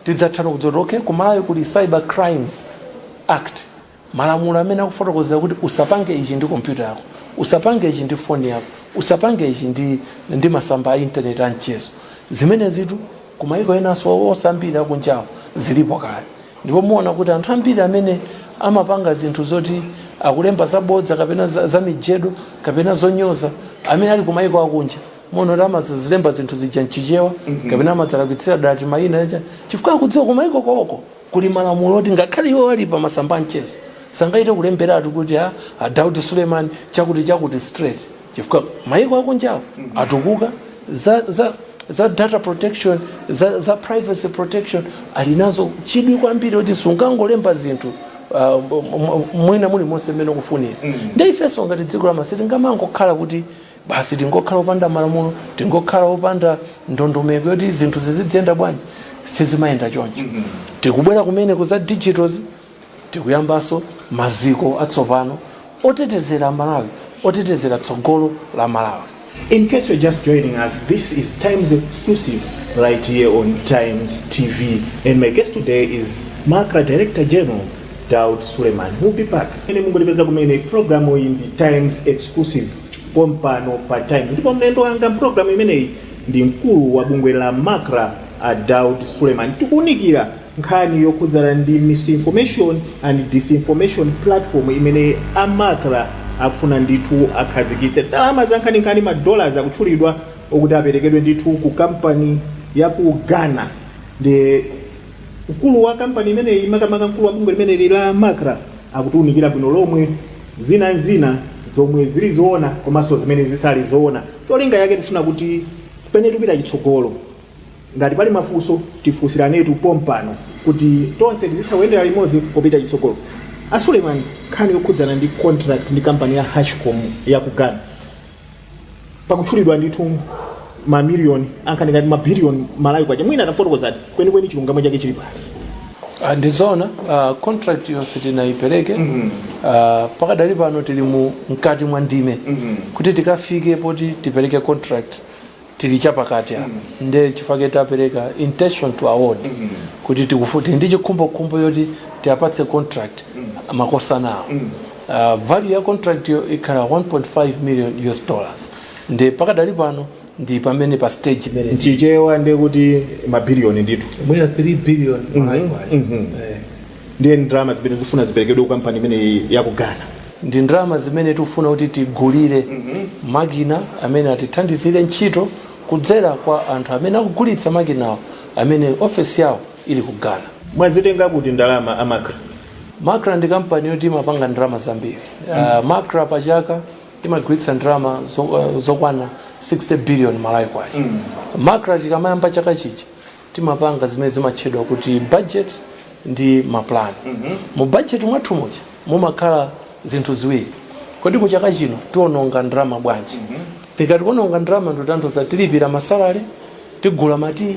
Tidzatha no kudziwa kuti ok ku Malawi kuli Cyber Crimes Act, malamulo amene akufotokozera kuti usapange ichi ndi kompyuta yako, usapange ichi ndi foni yako, usapange ichi ndi ndi masamba a internet a mchezo. Zimenezitu ku maiko enanso ambiri akunjawo zilipo kale. Ndipo muona kuti anthu ambiri amene amapanga zinthu zoti akulemba zabodza kapena zamijedo kapena zonyoza amene ali ku maiko akunja, muona kuti amazilemba zinthu zija mchichewa kapena amadzalakwitsira dala timayina aja chifukwa akudziwa kumayiko koko kuli malamulo oti ngakhale iwo ali pa masamba amchezo sangachite kulemberatu kuti a a daudi suleiman chakuti chakuti straight chifukwa mayiko akunjawo atukuka za, za, za data protection za, za privacy protection ali nazo chidwi kwambiri kuti sungangolemba zinthu uh, m- m- mwina mulimonse mmene ukufunira ndi ifenso ngati dziko la ma- sitingamangokhala kuti basi tingokhala opanda malamulo tingokhala opanda ndondomeko yoti zinthu zizidziyenda bwanji sizimayenda choncho mm-hmm. tikubwera kumene ku za digital tikuyambanso maziko atsopano otetezera malawi otetezera tsogolo la malawi In case you're just joining us, this is Times Exclusive right here on Times TV. And my guest today is MACRA Director General Daud Suleiman. We'll be back. Times Exclusive. pompano pa Times ndipo mlendo wanga mpulogalamu imeneyi ndi mkulu wa bungwe la macra a Daud Suleiman. Tikuunikira nkhani yokhudzana ndi misinformation and disinformation platform imene a macra akufuna ndithu akhazikitse. Ndalama zankhaninkhani ma dollars akutchulidwa okuti aperekedwe ndithu ku kampani ya ku Ghana ndi Mkulu wa kampani imeneyi, makamaka mkulu wa bungwe limeneli la Macra, akutiunikira bwino lomwe zina n'zina zomwe zili zoona komanso zimene zisali zoona. Cholinga chake tifuna kuti pene tupita chitsogolo, ngati pali mafunso tifunsiranetu pompano kuti tonse tizitha kuyendera limodzi popita chitsogolo. A Suleiman, nkhani yokhudzana ndi contract ndi kampani ya Hashcom ya ku Ghana, pakutchulidwa ndithu mamiliyoni ankhaninkhani mabiliyoni Malawi kwacha mwina tafotokozani kwenikweni chilungamo chake chili pati Ah, ndi zoona ah, contract yonse sitinayipereke Ah, pakadali pano tili mu mkati mwa ndime kuti tikafike poti tipereke contract tili chapakati apa nde chifake tapereka intention to award kuti tili ndi chikhumbokhumbo choti tiapatse contract makosanawo Uh, value ya contractyo ikhala 1.5 million US dollars ndi pakadali pano ndi pamene pa stage imene mchichewa ndiye kuti mabiliyoni ndithu mwina 3 billion Malawi kwacha. mhm. Eh. ndiye ndalama zimene zifuna ziperekedwe ku kampani imene ya ku Ghana ndi ndalama zimene tikufuna kuti tigulire makina amene atithandizire ntchito kudzera kwa anthu amene akugulitsa makinawo amene ofesi yawo ili ku Ghana. Mwazitenga kuti ndalama a Macra? Macra ndi kampani yoti imapanga ndalama zambiri. Uh, Macra pa chaka imagwiritsa ndalama zo, uh, zokwana 60 billion Malawi kwacha. Macra tikamayamba chaka chija timapanga zimene zimatchedwa kuti budget ndi maplan. Mu budget mwathu muja mumakhala zinthu ziwiri. Kodi mu chaka chino tiononga ndalama bwanji? Tikati kuononga ndalama ndikutanthauza tilipira masalale, tigula matiyi,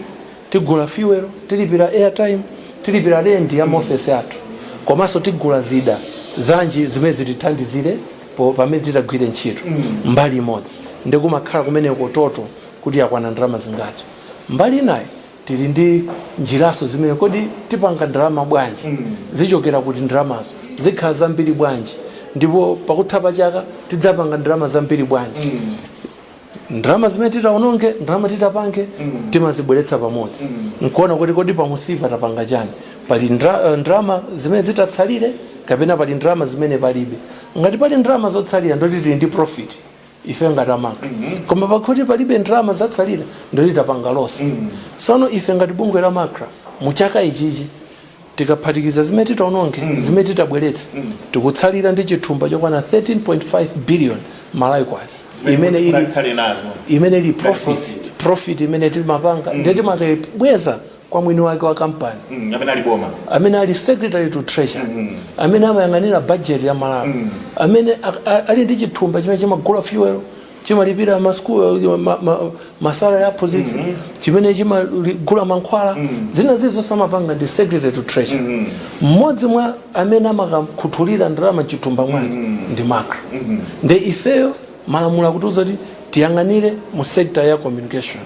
tigula fuel, tilipira airtime, tilipira rent ya maofesi athu. Komanso tigula zida zanji zimene zitithandizire pamene titagwire ntchito. Mbali imodzi ndi kumakhala kumeneko total kuti yakwana ndalama zingati. Mbali inayi tili ndi njiranso zimene kodi tipanga ndalama bwanji, zichokera kuti ndalamazo, zikhala zambiri bwanji ndipo pakutha pa chaka tidzapanga ndalama zambiri bwanji. ndalama zimene titaononge ndalama titapange timazibweretsa pamodzi nkuona kuti kodi pamunsipa tapanga chani pali ndra- ndalama zimene zitatsalire kapena pali ndalama zimene palibe ngati pali ndalama zotsalira ndoti tili ndi profit ife ngati a Macra koma pakuti palibe ndalama zatsalira ndoti tapanga losi sono ife ngati bungwe la Macra mu chaka ichichi tikaphatikiza zimene titaononge mm. zimene titabweretse mm. tikutsalira ndi chithumba chokwana 13.5 billion Malawi kwacha imene ili imene ili profit profit imene timapanga mm. ndiye timakayibweza kwa mwini wake wa kampani mm, amene ali boma amene ali secretary to treasury mm, mm. amene amayang'anira budget ya Malawi mm. amene ali ndi chithumba chimene chimagula fuel chimalipira ma school eh, ma, ma, ma salary a aphunzitsi chimene chimagula mankhwala zina zili zonse amapanga ndi secretary to treasury mmodzi mwa amene amakakhuthulira ndalama mchithumba mwake ndi macra nde ifeyo malamulo akutiuza kuti tiyang'anire mu sector ya communication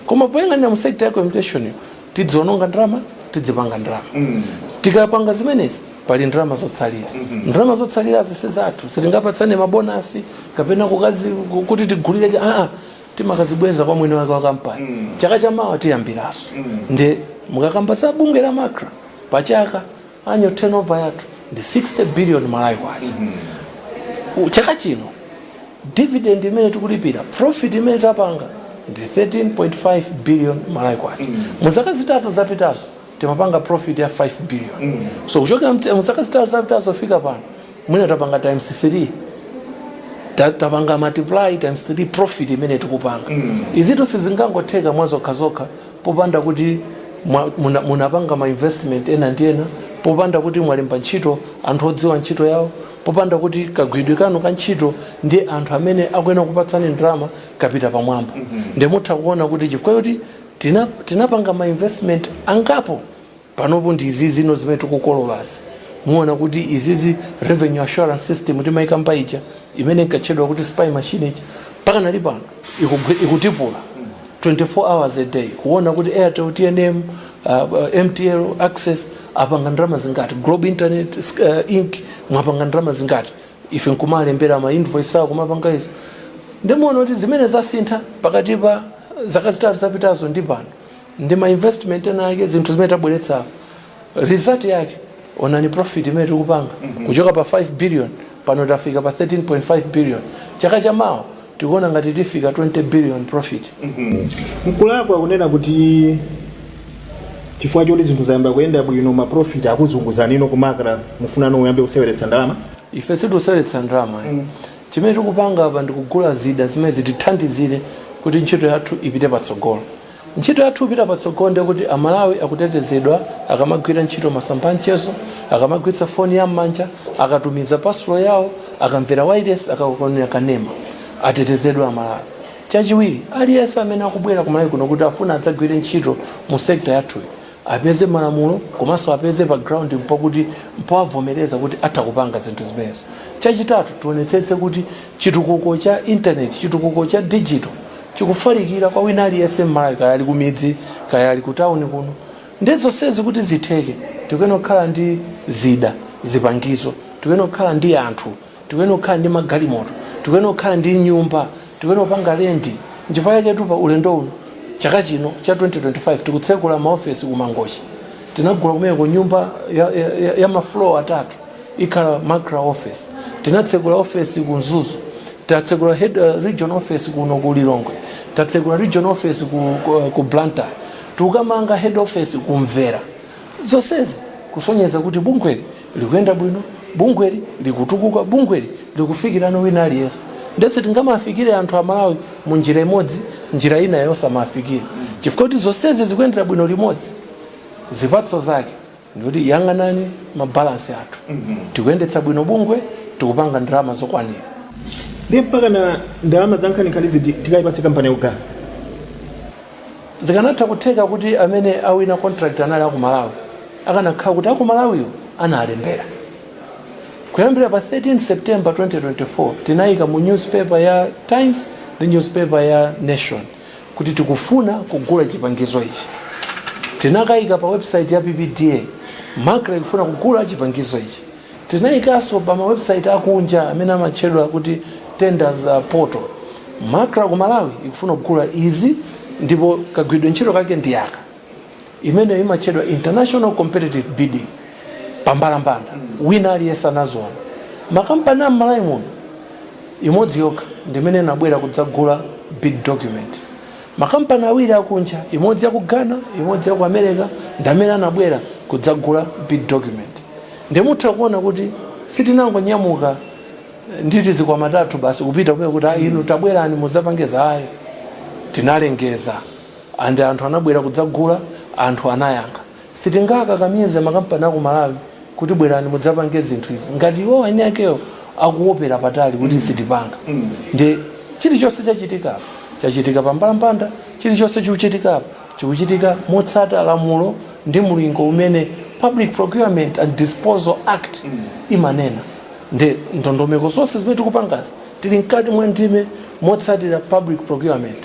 koma poyang'anira mu sector ya communication tidziononga ndalama tidzipanga ndalama tikapanga zimenezi pali ndalama zotsalira ndalama zotsalira zisizathu sitingapatsane mabonasi kapena kukazi kuti tigulire cha- aa timakazibweza kwa mwini wake wa kampani chaka chamawa tiyambiranso nde mukakamba za bungwe la macra pachaka annual turnover yathu ndi 60 billion malawi kwacha U- chaka chino dividend imene tikulipira profit imene tapanga ndi 13.5 billion malawi kwacha mu zaka zitatu zapitazo timapanga profit ya 5 billion so kuchokera mte- mu zaka zitatu zapitazo kufika pano mwina tapanga times 3 Ta- tapanga multiply times 3 profit imene tikupanga izitu sizingangotheka mwa zokha zokha popanda kuti mwa, muna, munapanga ma investment ena ndi ena popanda kuti mwalemba ntchito anthu odziwa ntchito yawo popanda kuti kagwiridwe kanu ka ntchito ndi anthu amene akuyenera kupatsani ndalama kapita pamwamba mm -hmm. nde mutha kuona kuti chifukwa choti tina, tinapanga ma investment angapo panopo ndi izi zino zimene tikukololazi muona kuti izizi revenue assurance system timaika mpa ija imene inkatchedwa kuti spy machine ija mpaka lero pano ikugwi- ikutipula 24 hours a day kuona kuti airtel tnm uh, uh, mtl access apanga ndalama zingati globe internet uh, inc mwapanga ndalama zingati ife nkumalembera ma invoice awo kumapanga izo nde muona kuti zimene zasintha pakati pa zaka zitatu zapitazo ndi pano ndi ma investment ena ake zinthu zimene tabweretsa result yake onani profit imene tikupanga kuchoka pa 5 billion pano tafika pa 13.5 billion chaka cha mawa tikuona ngati tifika 20 billion profit mkulakwa kunena kuti chifukwa choti zinthu zayamba kuyenda bwino maprofit akuzunguzani no ku macra mufuna no muyambe kuseweretsa ndalama ife sitikuseweretsa ndalama mm. chimene tikupanga apa ndikugula zida zimene zitithandizire kuti ntchito yathu ipite patsogolo Ntchito yathu ikapita patsogolo ndiye kuti a Malawi akutetezedwa akamagwira ntchito masamba a mchezo, akamagwiritsa foni ya m'manja, akatumiza parcel yawo, akamvera wailesi, akaonera kanema. Atetezedwe a Malawi. Chachiwiri, aliyense amene akubwera ku Malawi kuno kuti afuna adzagwire ntchito mu sector yathuyi apeze malamulo komanso apeze pa ground mpoti mpowavomereza kuti atha kupanga zinthu zimenezo. Chachitatu, tionetsetse kuti chitukuko cha internet, chitukuko cha digital chikufalikira kwa wina aliyense m'malawi kaya ali kumidzi kaya ali kutawuni kuno ndi zonsezi kuti zitheke tikuyenera kukhala ndi zida zipangizo tikuyenera kukhala ndi anthu tikuyenera kukhala ndi magalimoto tikuyenera kukhala ndi nyumba tikuyenera kupanga lendi nchifukwa chake pa ulendo uno chaka chino cha 2025 tikutsekula maofesi ku mangochi tinagula kumeko nyumba ya, ya, ya, ya mafloor atatu ikhala macra office tinatsekula ofesi ku mzuzu tatsegula head, uh, region office kuno ku lilongwe tatsegula region office ku, ku, ku blantyre tikukamanga head office kumvera zonsezi kusonyeza kuti bungweli likuyenda bwino bungweli likutukuka bungweli likufikirana wina aliyense ndiye sitingamafikire anthu amalawi mu njira imodzi njira ina yosamafikire chifukwa kuti zonsezi zikuyendera bwino limodzi zipatso zake ndikuti yang'anani mabalansi athu tikuyendetsa bwino bungwe tikupanga ndalama zokwanira ndi mpaka na ndalama za nkhaninkhani izi tikayipatse kampani yaku ghana zikanatha kutheka kuti amene awina contract anali aku malawi akanakhala kuti aku malawiyo analembera kuyambira pa 13 september 2024 tinayika mu newspaper ya times ndi newspaper ya nation kuti tikufuna kugula chipangizo ichi. Tinakaika pa website ya PPDA, Macra ikufuna kugula chipangizo ichi. Tinaikanso pa ma website akunja amene amatchedwa kuti tenders uh, portal. Macra ku Malawi ikufuna kugula izi ndipo kagwiridwe ntchito kake ndi aka. imeneyo imatchedwa international competitive bidding pambalambanda wina aliyense anaziona makampani a mmalawi muno imodzi yokha ndimene inabwera kudzagula bid document makampani awiri akunja imodzi yaku ghana imodzi yaku america ndamene anabwera kudzagula bid document ndimutha kuona kuti sitinangonyamuka eh, nditi tizikwama tathu basi kupita kumene kuti "Ah, inu tabwerani mudzapange izi ayi tinalengeza And anthu anabwera kudzagula, anthu anayankha. Sitingakakamize makampani a ku Malawi kuti bwerani mudzapange zinthu izi ngati iwowo eni akewo akuonera patali kuti sitipanga. Ndiye chilichonse chachitika apa, chachitika pa mbalambanda, chilichonse chikuchitika apa chikuchitika motsata lamulo ndi mulingo umene Public Procurement and Disposal Act imanena. Ndiye ndondomeko zonse zimene tikupangazi tili mkati mwa ndime motsatira public procurement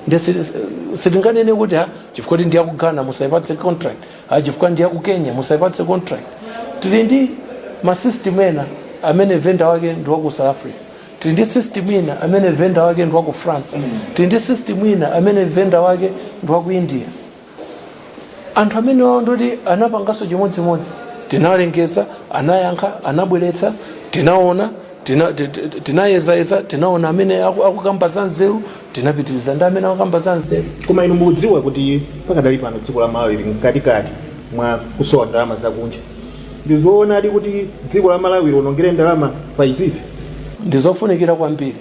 nde si- si- sitinganene kuti ah chifukwa kuti ndiyaku ghana musayipatse contract ah chifukwa ndiyaku kenya musayipatse contract tili ndi masystem ena amene vendor wake ndi waku south africa tili ndi system ina amene vendor wake ndi waku france tili ndi system ina amene vendor wake ndi waku india anthu amenewawo ndoti anapanganso chimodzimodzi tinalengeza anayankha anabweretsa tinaona tina- ti- ti- tinayezayeza tinaona amene aku- akukamba za nzeru tinapitiriza ndi amene akukamba za nzeru koma inu mukudziwa kuti pakadali pano dziko la malawi lili mkatikati mwa kusowa ndalama zakunja ndi zoonadi kuti dziko la malawi lionongere ndalama pa izizi ndizofunikira kwambiri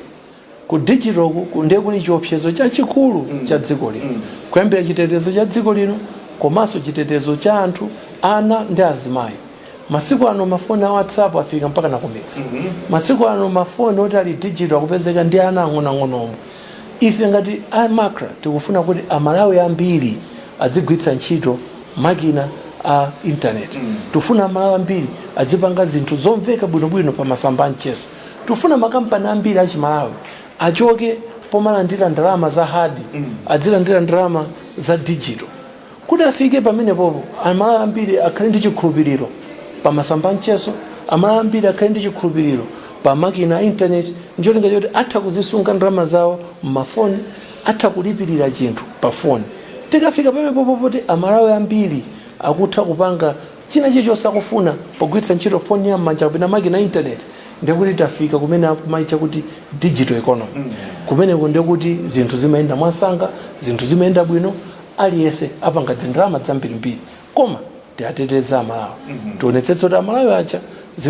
ku digital ku- ku ndiye kuli chiopsezo chachikulu cha dziko lino kuyambira chitetezo cha dziko lino komanso chitetezo cha anthu ana ndi azimayi masiku ano mafoni a whatsapp afika mpaka nakumidzi masiku ano mafoni oti ali digital akupezeka ndi ana ang'onoang'ono ife ngati a MACRA tikufuna kuti amalawi ambiri adzigwiritsa ntchito makina a intaneti tikufuna amalawi ambiri adzipanga zinthu zomveka bwinobwino pa masamba a mchezo Tifuna makampani ambiri a Chimalawi achoke pomalandira ndalama za hard adzilandira ndalama za digital kuti afike pamenepopo amalawi ambiri akhale ndi chikhulupiriro pa masamba amchezo amalawi ambiri akhale ndi chikhulupiriro pa makina a intaneti ncholinga choti atha kuzisunga ndalama zawo m'mafoni atha kulipirira chinthu pa foni tikafika pamenepopo poti amalawi ambiri akutha kupanga china chilichonse akufuna pogwiritsa ntchito foni ya m'manja kapena makina a internet ndi kuti tafika kumene akumaitcha kuti digital economy kumeneko ndiye kuti zinthu zimayenda mwamsanga zinthu zimayenda bwino aliyense apanga dzindalama dzambirimbiri koma tiateteze amalawi tionetsetse kuti amalawi aja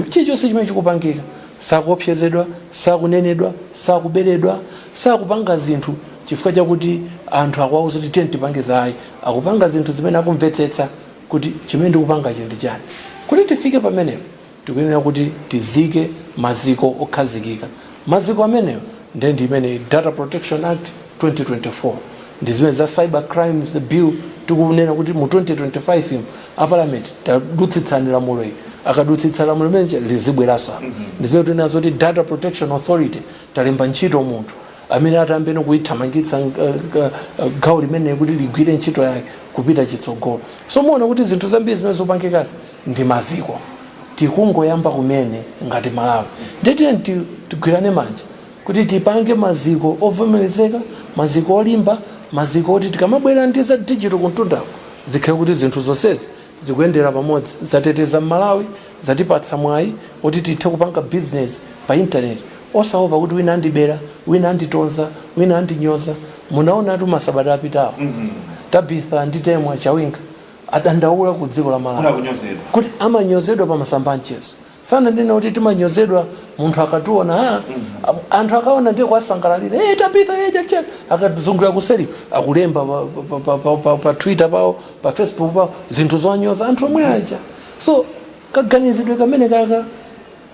chilichonse chimene chikupangika sakuopsezedwa sakunenedwa sakuberedwa sakupanga zinthu chifukwa chakuti anthu akuwauza kuti tiye tipange zayi akupanga zinthu zimene akumvetsetsa kuti chimene ndikupangacho ndi chani. Kuti tifike pamenepo tikuyenera kuti tizike maziko okhazikika. Maziko amenewo nde ndi imene Data Protection Act 2024, ndi zimene za Cyber Crimes Bill tikunena kuti mu 2025 mu, a Parliament tadutsitsani lamulo ili. Akadutsitsa lamulo limene lija lizibweranso apa. Ndi zimene tinena zoti Data Protection Authority talemba ntchito munthu. amene atayambe kuithamangitsa gawo limeneli kuti ligwire ntchito yake kupita chitsogolo so muona kuti zinthu zambiri zimene zikupangikazi ndi maziko tikungoyamba kumene ngati malawi ndiye tiyeni ti- tigwirane manja kuti tipange maziko ovomerezeka maziko olimba maziko oti tikamabwera ndi za digital kumtundako zikhale kuti zinthu zonsezi zikuyendera pamodzi, zateteza m'Malawi, zatipatsa mwayi oti tithe kupanga business pa internet osaopa kuti wina andibera, wina anditonza, wina andinyoza, munaonatu masabata apitawo Tabitha ndi Temwa Chawinga adandaula ku dziko la Malawi kuti amanyozedwa pa masamba a mchezo sindinena kuti timanyozedwa munthu akatiwona ah, a- anthu akaona ndiye kuwasangalalira hey, tabitha hey, chachani akazungulira kuseri akulemba pa, pa, pa, pa, pa, pa twitter pawo pa facebook pawo zinthu zonyoza anthu omwe aja so kaganizidwe kamene kaka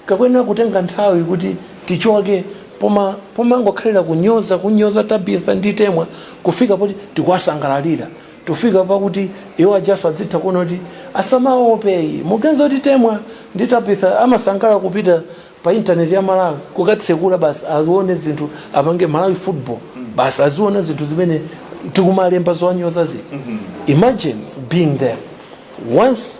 kakuyenera kutenga nthawi kuti tichoke poma pomangokhalira kunyoza kunyoza tabitha ndi temwa kufika poti tikuwasangalalira Tifika pakuti iwo ajanso adzitha kuona kuti asamaope ayi. Muganiza kuti Temwa ndi Tabitha amasangalala kupita pa internet ya Malawi kukatsekula basi azione zinthu apange Malawi football basi aziona zinthu zimene tikumalemba zowanyoza zija. Imagine being there. Once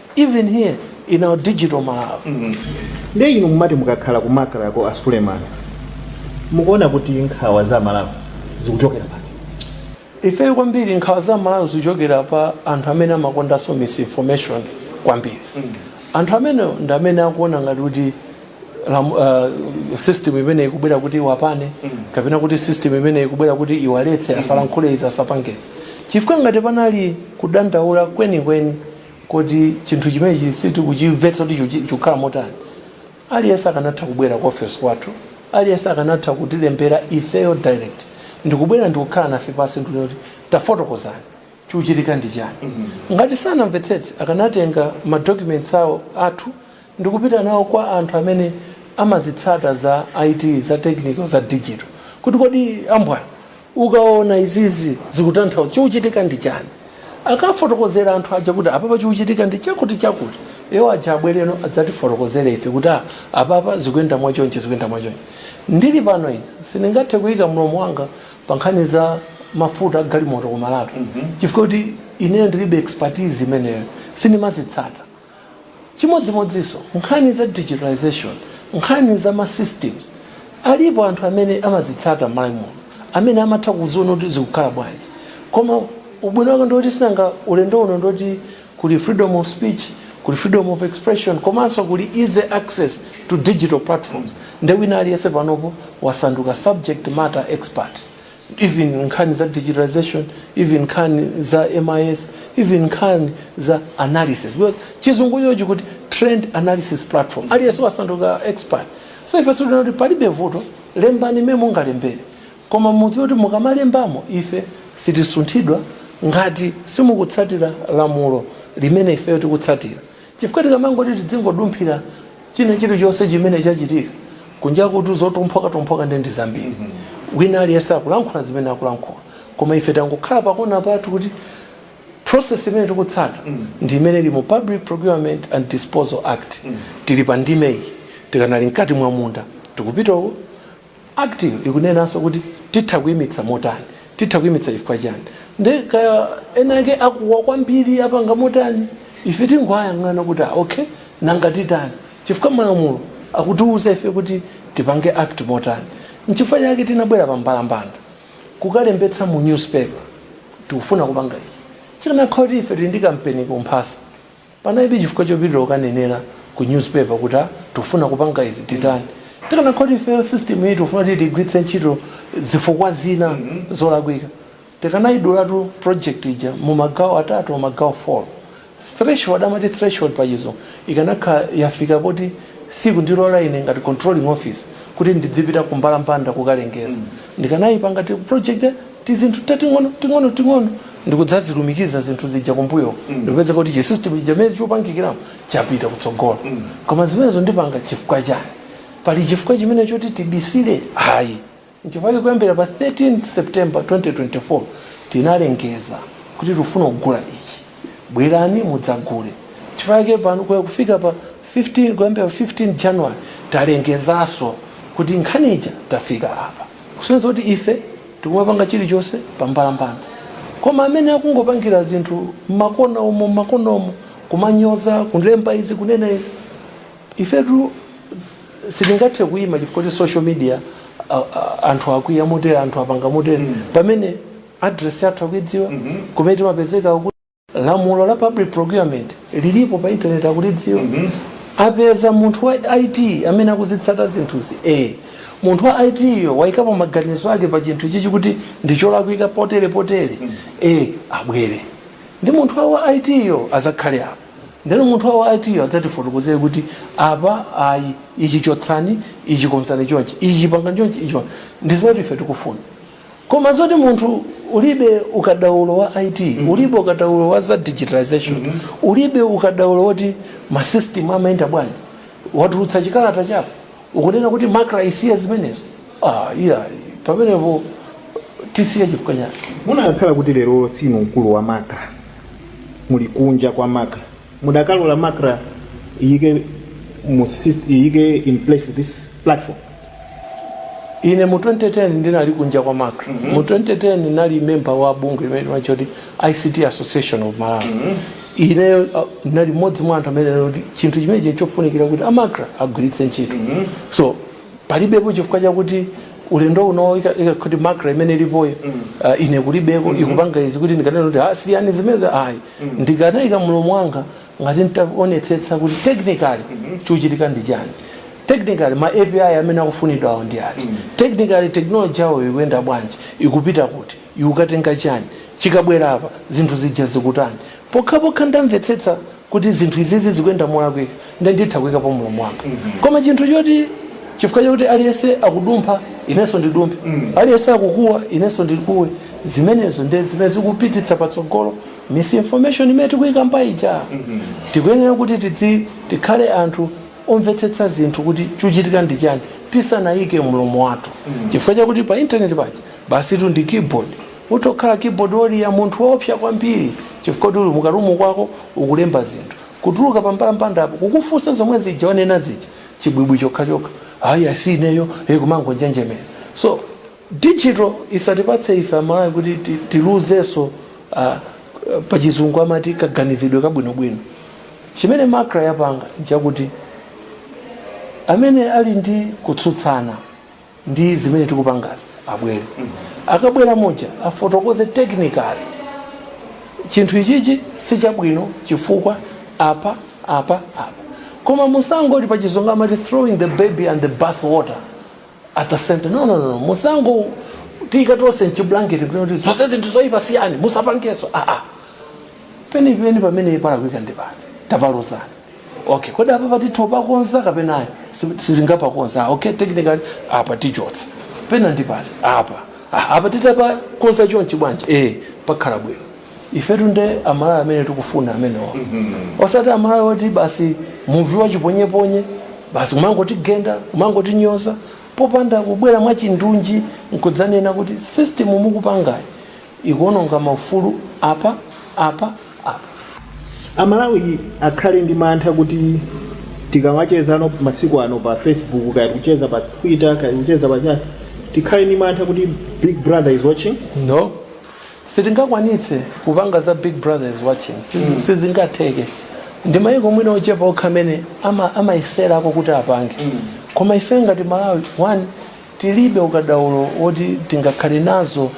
even here in our digital Malawi. nde inu mumati mukakhala kumakra ko asuleman mukuona kuti nkhawa za amalawi zikuchokera pati Ifeyo kwambiri nkhawa za aMalawi zikuchokera pa anthu amene amakondanso misinformation kwambiri. Anthu amene ndi amene akuona ngati kuti lam- uh, system imene ikubwera kuti iwapane kapena kuti system imene ikubwera kuti iwaletse asalankhule izi asapange izi chifukwa ngati panali kudandaula kwenikweni kuti chinthu chimenechi sitikuchimvetsa kuti chiku- chikukhala motani aliyense akanatha kubwera ku ofesi kwathu aliyense akanatha kutilembera ifeyo direct ndikubwera ndikukhala nafe pansi ndikuti tafotokozani chikuchitika ndi chani ngati sanamvetsetse akanatenga madocuments awo athu ndikupita nawo kwa anthu amene amazitsata za it za technical za digital kuti kodi ambwana Ukaona izizi zikutanthauza chikuchitika ndi chani? Akawafotokozera anthu aja kuti apapa chikuchitika ndi chakuti chakuti, iwo aja abwereno adzatifotokozere ife kuti a apapa zikuyenda mwa chonchi zikuyenda mwa chonchi. Ndili pano ine sindingathe kuyika mlomo wanga pa nkhani za mafuta a galimoto ku Malawi chifukwa choti ineyo ndilibe expertise imeneyo sindimazitsata. Chimodzimodzinso nkhani za digitalisation, nkhani za ma systems, alipo anthu amene amazitsata m'Malawi muno amene amatha kuziona kuti zikukhala bwanji. Koma ubwino wake ndi oti sinanga ulendo uno ndi oti kuli freedom of speech, kuli freedom of expression komanso kuli easy access to digital platforms nde wina aliyense panopo wasanduka subject matter expert even nkhani za digitalization even nkhani za mis even nkhani za analysis because chizungucho chikuti trend analysis platform aliyense wasanduka expert so ife tikunena kuti palibe vuto lembani mmene mungalembere koma mudziwe kuti mukamalembamo ife sitisunthidwa ngati simukutsatira lamulo limene ifeyo tikutsatira Chifukwa tikamangoti tidzingodumphira china chilichonse chimene chachitika kunjakutu zotumphukatumphuka ndiye ndi zambiri. Wina aliyense akulankhula zimene akulankhula. Koma ife tangokhala pakona pathu kuti process imene tikutsata ndi imene ili mu Public Procurement and Disposal Act. Tili pa ndime iyi. Tikanali mkati mwa munda. Tikupita uko. Act yo ikunenanso kuti titha kuimitsa motani? Titha kuimitsa chifukwa chiyani? Nde kaya ena ake akuwa kwambiri apanga motani? Ife tingowayang'ana kuti ah okay nanga titani? Chifukwa malamulo akutiuza ife kuti tipange act motani. Nchifukwa chake tinabwera pa mbalambanda kukalembetsa mu newspaper tikufuna kupanga ichi. Chikanakhala kuti ife tili ndi kampeni kumphasa. Panalibe chifukwa chopitira kukanenera ku newspaper kuti a tikufuna kupanga izi titani. Tikanakhala kuti ifeyo system iyi tikufuna kuti tigwiritse ntchito zifukwa zina zolakwika tikanayidulatu project ija mu magawo atatu mu magawo 4. Threshold amati threshold pachizungu ikanakhala yafika poti sikundilora ine ngati controlling officer kuti ndidzipita ku mbalambanda kukalengeza. Ndikanaipanga ti project tizinthu ting'ono ting'ono ting'ono ndikudzazilumikiza zinthu zija kumbuyo ndikupeza kuti chi system chija mmene chapangikiramo chapita kutsogolo koma zimenezo ndipanga chifukwa chani pali chifukwa chimene choti tibisire ayi nchifukwa chake kuyambira pa 13 september 2024 tinalengeza kuti tikufuna kugula ichi bwerani mudzagule chifukwa chake pano kuya kufika pa 15 kuyambira pa 15 January talengezanso kuti nkhani ija tafika apa kusonyeza kuti ife tikumapanga chilichonse pambalambanda koma amene akungopangira zinthu m'makona umo m'makona umo kumanyoza kulemba izi kunena izi ifetu sitingathe kuyima chifukwa kuti social media a- a- anthu akwiya motere anthu apanga motere pamene address yathu akuidziwa kumene timapezeka lamulo la public procurement lilipo pa internet akulidziwa mm -hmm. apeza munthu wa IT amene akuzitsata zinthuzi eh munthu wa IT yo waikapo maganizo ake pa chinthu ichi kuti ndicholakwika potere potere mm -hmm. eh abwere ndi munthu wa IT yo azakhale apo ndeno munthu wa IT yo adzatifotokozere kuti apa ayi ichi chotsani ichi konzani chonchi ichi pangani chonchi ichi ndi zimene ife tikufuna Koma zoti munthu ulibe ukadaulo wa IT, ulibe ukadaulo wa za digitalization, ulibe ukadaulo woti ma system amayenda bwanji, watulutsa chikalata chako ukunena kuti Macra isiye zimenezi? Ah, iyayi, pamenepo tisiye chifukwa chani? Munakakhala kuti lero sinu mkulu wa Macra, muli kunja kwa Macra, mudakalola Macra iyike mu syst- iyike in place this platform? ine mu 2010 ndinali kunja kwa macra mm -hmm. mu 2010 ndinali memba wa bungwe limene timatcha kuti ict association of malawi mm -hmm. ineyo uh, ndinali mmodzi mwa anthu amene kuti chinthu chimenechi nchofunikira kuti amacra agwiritse ntchito mm -hmm. so palibepo chifukwa chakuti ulendo uno kuti macra imene ilipoyo mm -hmm. uh, ine kulibeko mm -hmm. ikupanga izi kuti ndikanena kuti ah, siyani zimenezo ayi mm -hmm. ndikanaika mlomo wanga ngati ntaonetsetsa kuti technically chikuchitika ndi chani technically ma api amene akufunidwa awo ndi ati technically technology yawo ikuyenda bwanji ikupita kuti ikukatenga chani chikabwera apa zinthu zija zikutani pokhapokha ndamvetsetsa kuti zinthu izizi zikuyenda molakwika nde nditha kuyikapo mlomo wanga koma chinthu choti chifukwa chakuti aliyense akudumpha inenso ndidumphe aliyense akukuwa inenso ndikuwe zimenezo nde zimene zikupititsa patsogolo misinformation imene tikuyikamba ija tikuyenera kuti tidzi tikhale anthu omvetsetsa zinthu kuti chuchitika ndi chani tisanayike mlomo wathu chifukwa chakuti pa internet paja basitu ndi keyboard utha kukhala keyboard warrior munthu woopsa kwambiri chifukwa kuti uli mukarumu mwako ukulemba zinthu kutuluka pambalambandapo kukufunsa zomwe zija wanena zija chibwibwi chokhachokha ayi ah si ineyo e kumangonjenjemera so Digital isatipatse ife amalawi kuti tiluzenso pachizungu amati kaganizidwe kabwinobwino. Chimene macra yapanga nchakuti amene ali ndi kutsutsana ndi zimene tikupangazi abwere. Akabwera muja afotokoze technically chinthu ichichi sichabwino chifukwa apa, apa, apa. Koma musangoti pachizungu amati throwing the baby and the bath water. at the same time no no no no, musangotiika tonse mchiblanketi kuti kuti zonse zinthu zoyipa siyani musapangenso ah ah penipeni pamene palakwika ndi pati tapalozani okay kodi apa apa titha kupakonza kapena ayi Si- sitingapakonze ah, okay technically apa tichotsa pena ndi pati apa ah, apa titapakonza chonchi bwanji eh pakhala bwino ifetu nde amalawi amene tikufuna amenewa osati amalawi oti basi mivi yachiponyeponye basi kumangotigenda kumangotinyoza popanda kubwera mwachindunji nkudzanena kuti system mukupangayi ikuononga maufulu apa apa apa amalawi akhale ndi mantha kuti tikamachezano masiku ano pa facebook kaya tikucheza pa twitter kaya tikucheza pa chani tikhale ndi mantha kuti big brother is watching no Sitingakwanitse kupanga za big brother is watching Siz- sizingatheke ndi maiko mwina ochepa okha amene ama- amayeserako kuti apange koma ife ngati malawi one tilibe ukadaulo woti tingakhale nazo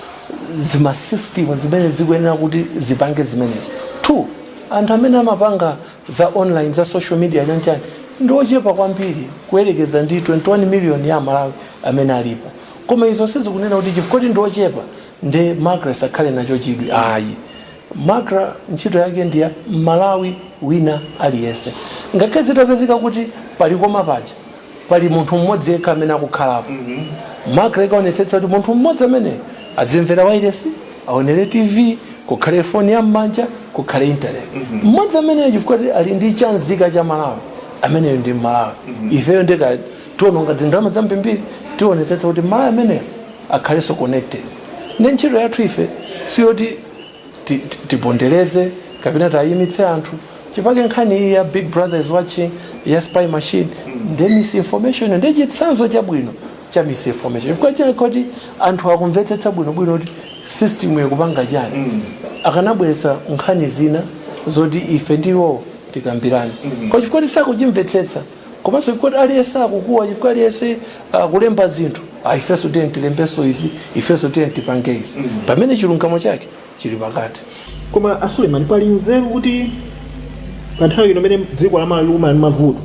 zimasystem zimene zikuyenera kuti zipange zimenezo two anthu amene amapanga za online za social media chanchani ndi ochepa kwambiri kuyerekeza ndi 21 million ya amalawi amene alipo koma izo sizikunena kuti chifukwa kuti ndi ochepa nde macra isakhale nacho chidwi ayi macra ntchito yake ndiya mmalawi wina aliyense ngakhale zitapezeka kuti palikona paja pali munthu mmodzi yekha amene akukhalapo mm -hmm. macra ikaonetsetsa kuti munthu mmodzi amene azimvera wailesi aonere tv kukhale foni ya mmanja kukhale internet mhm. mmodzi mm -hmm. amene chifukwa ali ndi nzika ya malawi ameneyo ndi mmalawi mm -hmm. ifeyo nde kuti tiononga zindalama zambirimbiri tionetsetsa kuti mmalawi ameneyo akhalenso connected nde ntchito yathu ife siyoti ti- ti- tipondereze kapena tayimitse anthu chifukwa nkhani iyi ya big brother is watching ya spy machine nde misinformation ndi chitsanzo chabwino cha misinformation chifukwa chikanakhala kuti anthu akumvetsetsa bwinobwino kuti system ikupanga chani akanabweretsa nkhani zina zoti ife ndi iwo tikambirane koma chifukwa choti sakuchimvetsetsa komanso chifukwa kuti aliyense akukuwa chifukwa aliyense akulemba zinthu ah, ifenso tiyeni tilembenso izi ifenso tiyeni tipange izi pamene chilungamo chake chili pakati koma asuleman pali nzeru kuti pa nthawi ino imene dziko la malawi lili ndi mavuto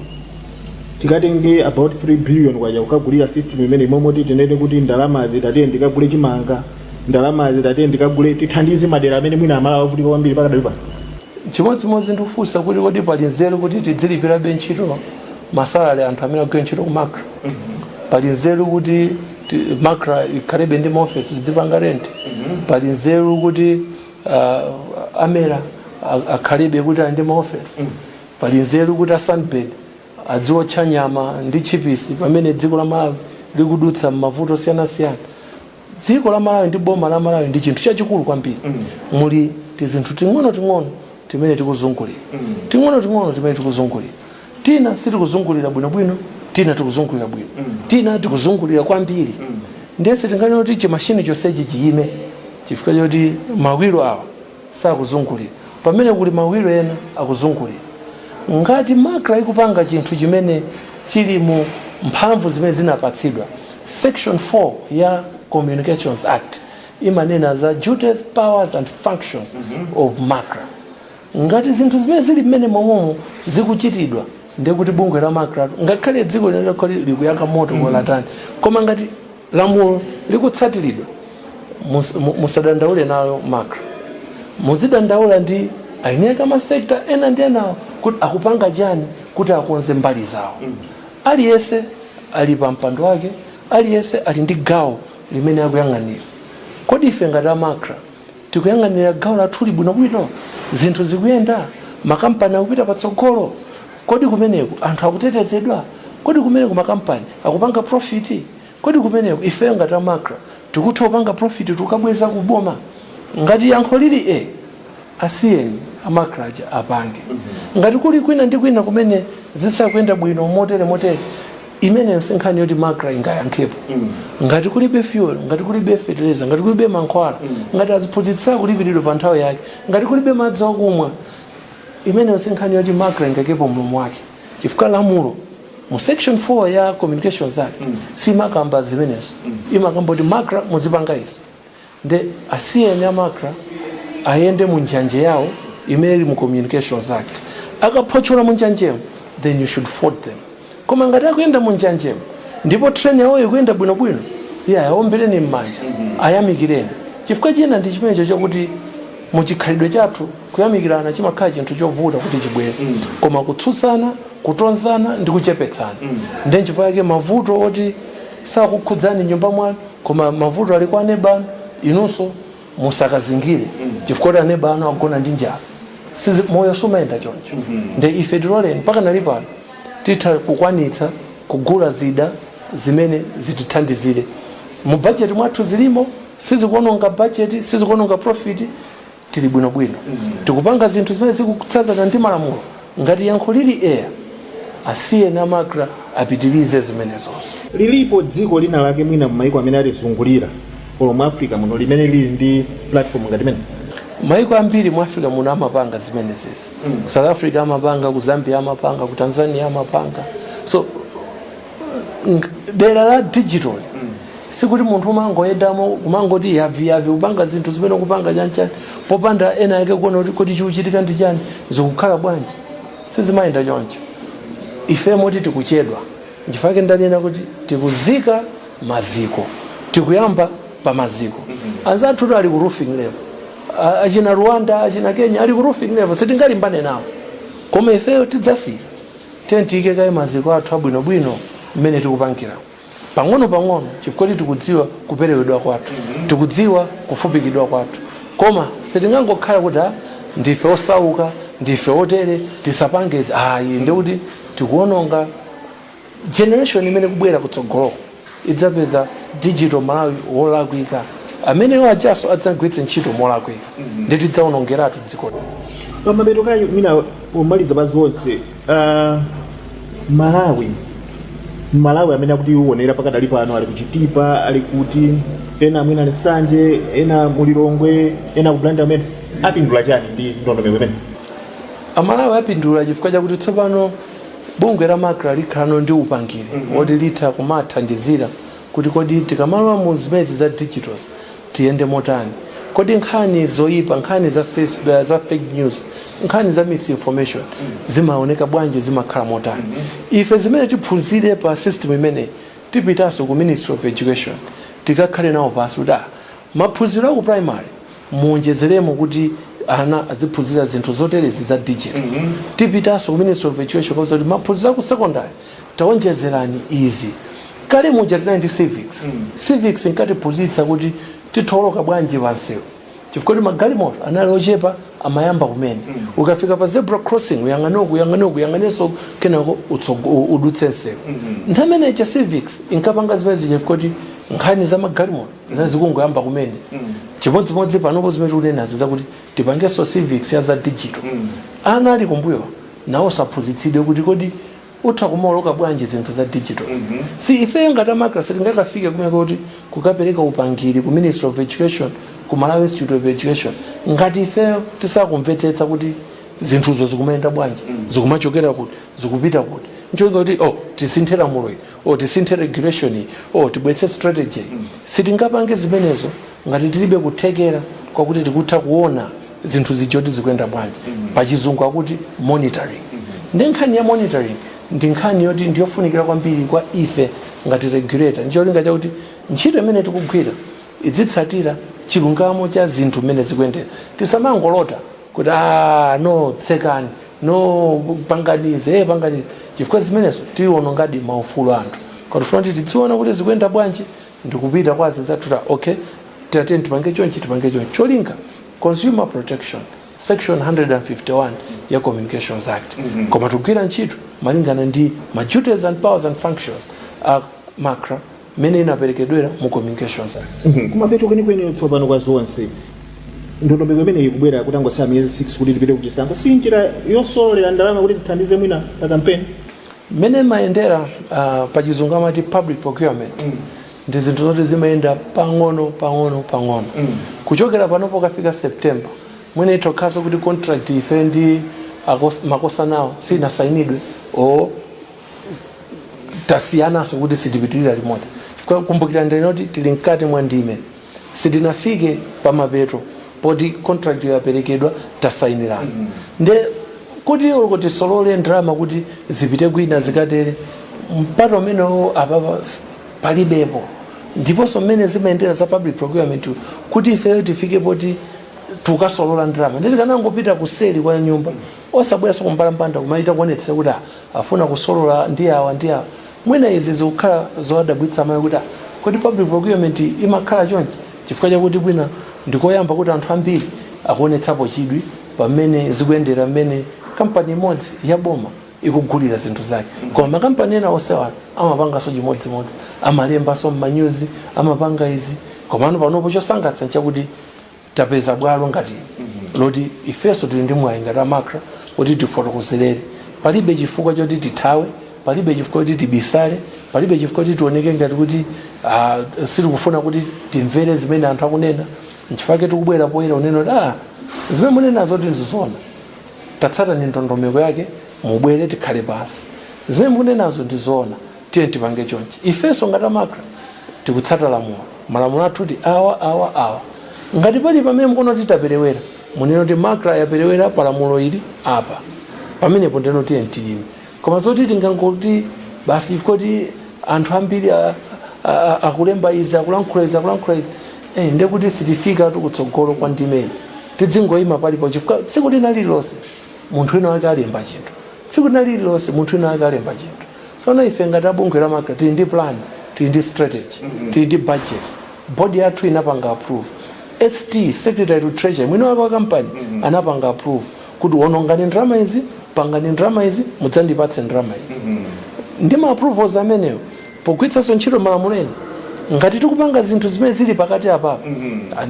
tikatenge about 3 billion kwacha kukagulira system imeneyi mmalo moti tinene kuti ndalamazi tatiyeni tikagule chimanga ndalamazi tatiyeni tikagule tithandize madera amene mwina amalawi avutika kwambiri pakadali pano Chimodzimodzi ndikufunsa kuti kodi pali nzeru kuti tidzilipirabe ntchito masalary anthu amene agwira ntchito ku macra pali nzeru kuti ti- macra ikhalebe ndi maofesi tidzipanga rent pali nzeru kuti uh, amera a- akhalebe kuti ali ndi maofesi pali nzeru kuti asunbird adziwotcha nyama ndi tchipisi pamene dziko la malawi likudutsa m'mavuto osiyanasiyana dziko la malawi ndi boma la malawi ndi chinthu chachikulu kwambiri muli tizinthu ting'onoting'ono timene tikuzungulira ting'onoting'ono timene tikuzungulira tina sitikuzungulira bwinobwino tina tikuzungulira bwino tina tikuzungulira kwambiri ndiye sitinganene kuti chimashini chonsechi chiyime chifukwa choti mawiro awa sakuzungulira pamene kuli mawiro ena akuzungulira. Ngati Macra ikupanga chinthu chimene chili mu mphamvu zimene zinapatsidwa, section 4 ya Communications Act imanena za duties, powers and functions of Macra. Ngati zinthu zimene zili mmenemomo zikuchitidwa ndiye kuti bungwe la Macratu ngakhale dziko lino litakhala kuti likuyaka moto kolo tani koma ngati Lamulo likutsatiridwa musadandaule nayo macra muzidandaula ndi aeni ake ama sector ena ndi enawo kuti akupanga chani kuti akonze mbali zawo. Aliyense ali pa mpando wake aliyense ali ndi gawo limene akuyang'anira kodi ife ngati a macra, Tikuyang'anira gawo lathuli bwinobwino? Zinthu zikuyenda? Makampani akupita patsogolo? Kodi kumeneku anthu akutetezedwa? Kodi kumeneku makampani akupanga profiti? Kodi kumeneku ifeyo ngati a Macra tikutha kupanga profiti tikabweza ku boma? Ngati yankho lili ee, asiyeni a Macra aja apange. Ngati kuli kwina ndi kwina kumene zisakuyenda bwino motere motere, imeneyo si nkhani yoti macra ingayankhepo ngati kulibe fuel ngati kulibe fertilizer ngati kulibe mankhwala ngati aziphunzitsi sakulipiridwa pa nthawi yake ngati kulibe madzi okumwa imeneyo si nkhani yoti macra ingaikepo mlomo wake chifukwa lamulo mu section 4 ya communications act siimakamba zimenezo imakamba kuti macra muzipanga izi Nde asiyeni a macra ayende mu njanje yawo imene ili mu communications act. Akaphotchola mu njanjemo then you should fault them. Koma ngati akuyenda mu njanjemo ndipo train yawoyo ikuyenda bwinobwino, iyayi awombeleni mmanja, ayamikileni. Chifukwa china ndi chimenecho chakuti mu chikhalidwe chathu kuyamikilana chimakhala chinthu chovuta kuti chibwere. Koma kutsutsana, kutonzana ndi kuchepetsana. Nde nchifukwa chake mavuto oti sakukhudzani m'nyumba mwanu koma mavuto ali kwa aneba anu inunso musakadzingire chifukwa kuti aneba anu agona ndi njala Sizi- moyo suumayenda choncho nde ife tiloleni mpaka pali pano titha kukwanitsa kugula zida zimene zitithandizire mu bajeti mwathu zilimo sizikuononga bajeti sizikuononga profiti tili bwinobwino tikupanga zinthu zimene zikutsatana ndi malamulo ngati yankho lili eya asiyeni amakra apitirize zimenezizo lilipo dziko lina lake mwina m'maiko amene atizungulira olo mu africa muno limene lili ndi platform ngati imeneyi maiko ambiri mu africa muno amapanga zimenezizi ku south africa amapanga ku zambia amapanga ku tanzania amapanga so dera la digital sikuti munthu umangoyendamo umangoti yaviyavi kupanga zinthu zimene kupanga chanchani popanda wina wake kuona kuti kodi chikuchitika ndi chani zikukhala bwanji sizimayenda choncho ife moti tikuchedwa nchifukwa ndanena kuti tikuzika maziko tikuyamba pa maziko anzathu ali ku roofing level A- achina rwanda achina kenya ali ku roofing level sitingalimbane nawo koma ifeyo tidzafika Tiyeni tiike kaye maziko athu abwinobwino mmene tikupangiramu pang'onopang'ono chifukwa choti tikudziwa kuperewedwa kwathu, tikudziwa kufupikidwa kwathu. Koma sitingangokhala kuti, Ha, ndife osauka, ndife otere, tisapange izi. Ayi, ndiye kuti tikuwononga generation imene ikubwera kutsogoloku. itzapeza digital malawi wolakwika ameneyo adzanso adzagwiritse ntchito molakwika ndi tidzaonongeratu dziko pamapeto kaya mwina pomaliza pa zonse ah, malawi malawi amene akutionera pakadali pano ali ku chitipa ali kuti ena mwina ali nsanje ena mu lilongwe ena ku blantyre amene apindula chani ndi ndondomeko imeneyi amalawi apindula chifukwa chakuti tsopano bungwe la macra likhala no ndi upangiri woti litha kumathandizira kuti kodi tikamalowa mu zimenezi za digitals tiyende motani kodi nkhani zoyipa nkhani za, face, uh, za fake news nkhani za misinformation zimaoneka bwanji zimakhala motani ifeyo zimene tiphunzire pa system imeneyi tipitanso ku ministry of education tikakhale nawo pansi kuti ah, Maphunziro aku primary muonjezeremo kuti ana adziphunzira zinthu zoterezi za digital. Tipitanso ku Ministry of Education kukauza kuti maphunziro aku secondary taonjezerani izi. Kale muja tinali ndi civics. Civics inkatiphunzitsa kuti titha kuoloka bwanji pa mseu chifukwa choti magalimoto anali ochepa amayamba kumene. Ukafika pa zebra crossing uyang'ane uku, uyang'ane uku, uyang'anenso uku kenako udutse mseu. Nthawi imene ija civics inkapanga zimene zija chifukwa choti nkhani za magalimoto. zinali zikungoyamba kumene chimodzimodzi panopo zimene tikunenazi zakuti tipangenso civics ya za digital ana ali m'mbuyomu nawonso aphunzitsidwe kuti kodi utha kumaoloka bwanji zinthu za digital ndiye ifeyo ngati a macra sitingakafike kumeneko kuti kukapereka upangiri ku ministry of education ku malawi institute of education ngati ifeyo tisakumvetsetsa kuti zinthuzo zikumayenda bwanji zikumachokera kuti zikupita kuti ncholinga kuti oh tisinthe lamulo ili o tisinthe regulation o tibweretse strategy sitingapange zimenezo ngati tilibe kuthekera kwakuti tikutha kuona zinthu zija zoti zikuyenda bwanji pachizungu akuti monitoring ndiye nkhani ya monitoring ndi nkhani yoti ndiyofunikira kwambiri kwa ife ngati regulator ndicholinga chakuti ntchito imene tikugwira idzitsatira chilungamo cha zinthu mmene zikuyendera tisamangolota kuti "Ah, no tsekani no pangani izi eh, pangani izi chifukwa zimenezo tiwonongadi maufulu a anthu koma tifuna kuti tidziona kuti zikuyenda bwanji ndikupita kwa anzathu kuti okay tiyeni tipange chonchi tipange chonchi cholinga consumer protection section 151 ya communications act koma tikugwira ntchito malingana ndi ma duties and powers and functions a macra mmene inaperekedwera mu Communications. Kumapeto kwenikweni tsopano kwa zonse, ndondomeko imeneyi ikubwera kutangotsala miyezi 6 kuti tipite ku chisankho. Si njira yosololera ndalama kuti zithandize mwina pa kampeni? Mmene imayendera ah, pa chizungu amati public procurement ndi zinthu zoti zimayenda pang'ono pang'ono pang'ono kuchokera pano pokafika september mwina ikhozanso kuti contract ife ndi a hash- a hashcom-wo sinasayinidwe o tasiyananso kuti sitipitirira limodzi Kwa- kumbukirani kuti tili mkati mwa ndime sitinafike pa mapeto poti contract yaperekedwa tasayinirana nde kuti uko tisolole ndalama kuti zipite kwina zikatere mpata umenewo apapa s- palibepo ndiponso mmene zimayendera za public procurement kuti ifeyo tifike poti tukasolola ndalama nde tikanangopita kuseli kwa nyumba Osabweranso kumbalambanda kumachita kuonetsera kuti afuna kusolola ndi awa ndi awa. Mwina izi zikukhala zowadabwitsa amalawi kuti ah kodi public procurement imakhala chonchi? Chifukwa chakuti mwina ndi koyamba kuti anthu ambiri akuonetsapo chidwi pa mmene zikuyendera mmene kampani imodzi ya boma ikugulira zinthu zake. Koma makampani ena onsewa amapanganso chimodzimodzi. Amalembanso m'manyuzi, amapanga izi. Komano panopo chosangalatsa n'chakuti tapeza bwalo ngati ili loti ifenso tili ndi mwayi ngati a macra kuti tifotokozerere palibe chifukwa choti tithawe palibe chifukwa choti tibisale palibe chifukwa choti tioneke ngati kuti ah, sitikufuna kuti timvere zimene anthu akunena nchifukwa chake tikubwera poyera kunena kuti ah, zimene munenazo ngati ndizona tatsatani ndondomeko yake mubwere tikhale pansi zimene mukunenazo ndizona Tiyeni tipange chonchi. Ifenso ngati a macra tikutsata lamulo. Malamulo athu ndi awa, awa, awa. Ngati pali pamene mukuona kuti taperewera, munene kuti macra yaperewera pa lamulo ili apa. Pamenepo ndeno tiyeni tiyime. Koma zoti tingangoti basi chifukwa kuti anthu ambiri a- a- a- akulemba izi akulankhula izi akulankhula izi eh, ndiye kuti sitifikatu kutsogolo kwa ndimeyi tidzingoyima palipo chifukwa tsiku lina lililonse munthu wina wake alemba chinthu tsiku lina lililonse munthu wina wake alemba chinthu Tsono ife ngati a bungwe la macra tili ndi plan, tili ndi strategy, tili ndi budget, board yathu inapanga approve, ST, secretary to treasury, mwini wake wa kampani anapanga approve kuti wonongani ndalama izi, pangani ndalama izi, mudzandipatse ndalama izi. Ndi ma approvals amenewo pogwiritsanso ntchito malamulo ena ngati tikupanga zinthu zimene zili pakati apapa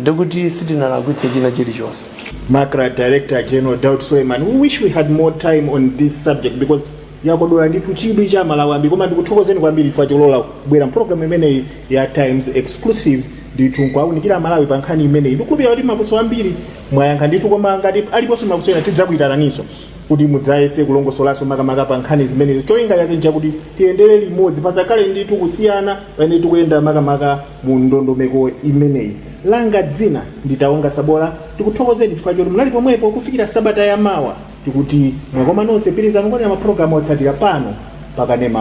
ndekuti sitinalakwitse china chilichonse. Macra Director General Daud Suleiman, we wish we had more time on this subject because Yakodola ndithu chidwi cha amalawi ambiri koma ndikuthokozeni kwambiri chifukwa cholola kubwera mu program imeneyi ya Times Exclusive ndithu nkuwaunikira amalawi pa nkhani imeneyi. Ndikukhulupirira kuti mafunso ambiri mwayankha ndithu koma ngati aliponso mafunso ena tidzakuitananinso kuti mudzayese kulongosolanso makamaka pa nkhani zimenezo. Cholinga chake nchakuti tiyendere limodzi pasakhale ndithu kusiyana pamene tikuyenda makamaka mu ndondomeko imeneyi. Langa dzina ndi Taonga Sabola ndikuthokozeni chifukwa choti munali pomwepo kufikira sabata ya mawa. Tikuti mwakoma nonse pitilizani kuonera ma program otsatira pano pa kanema wanu.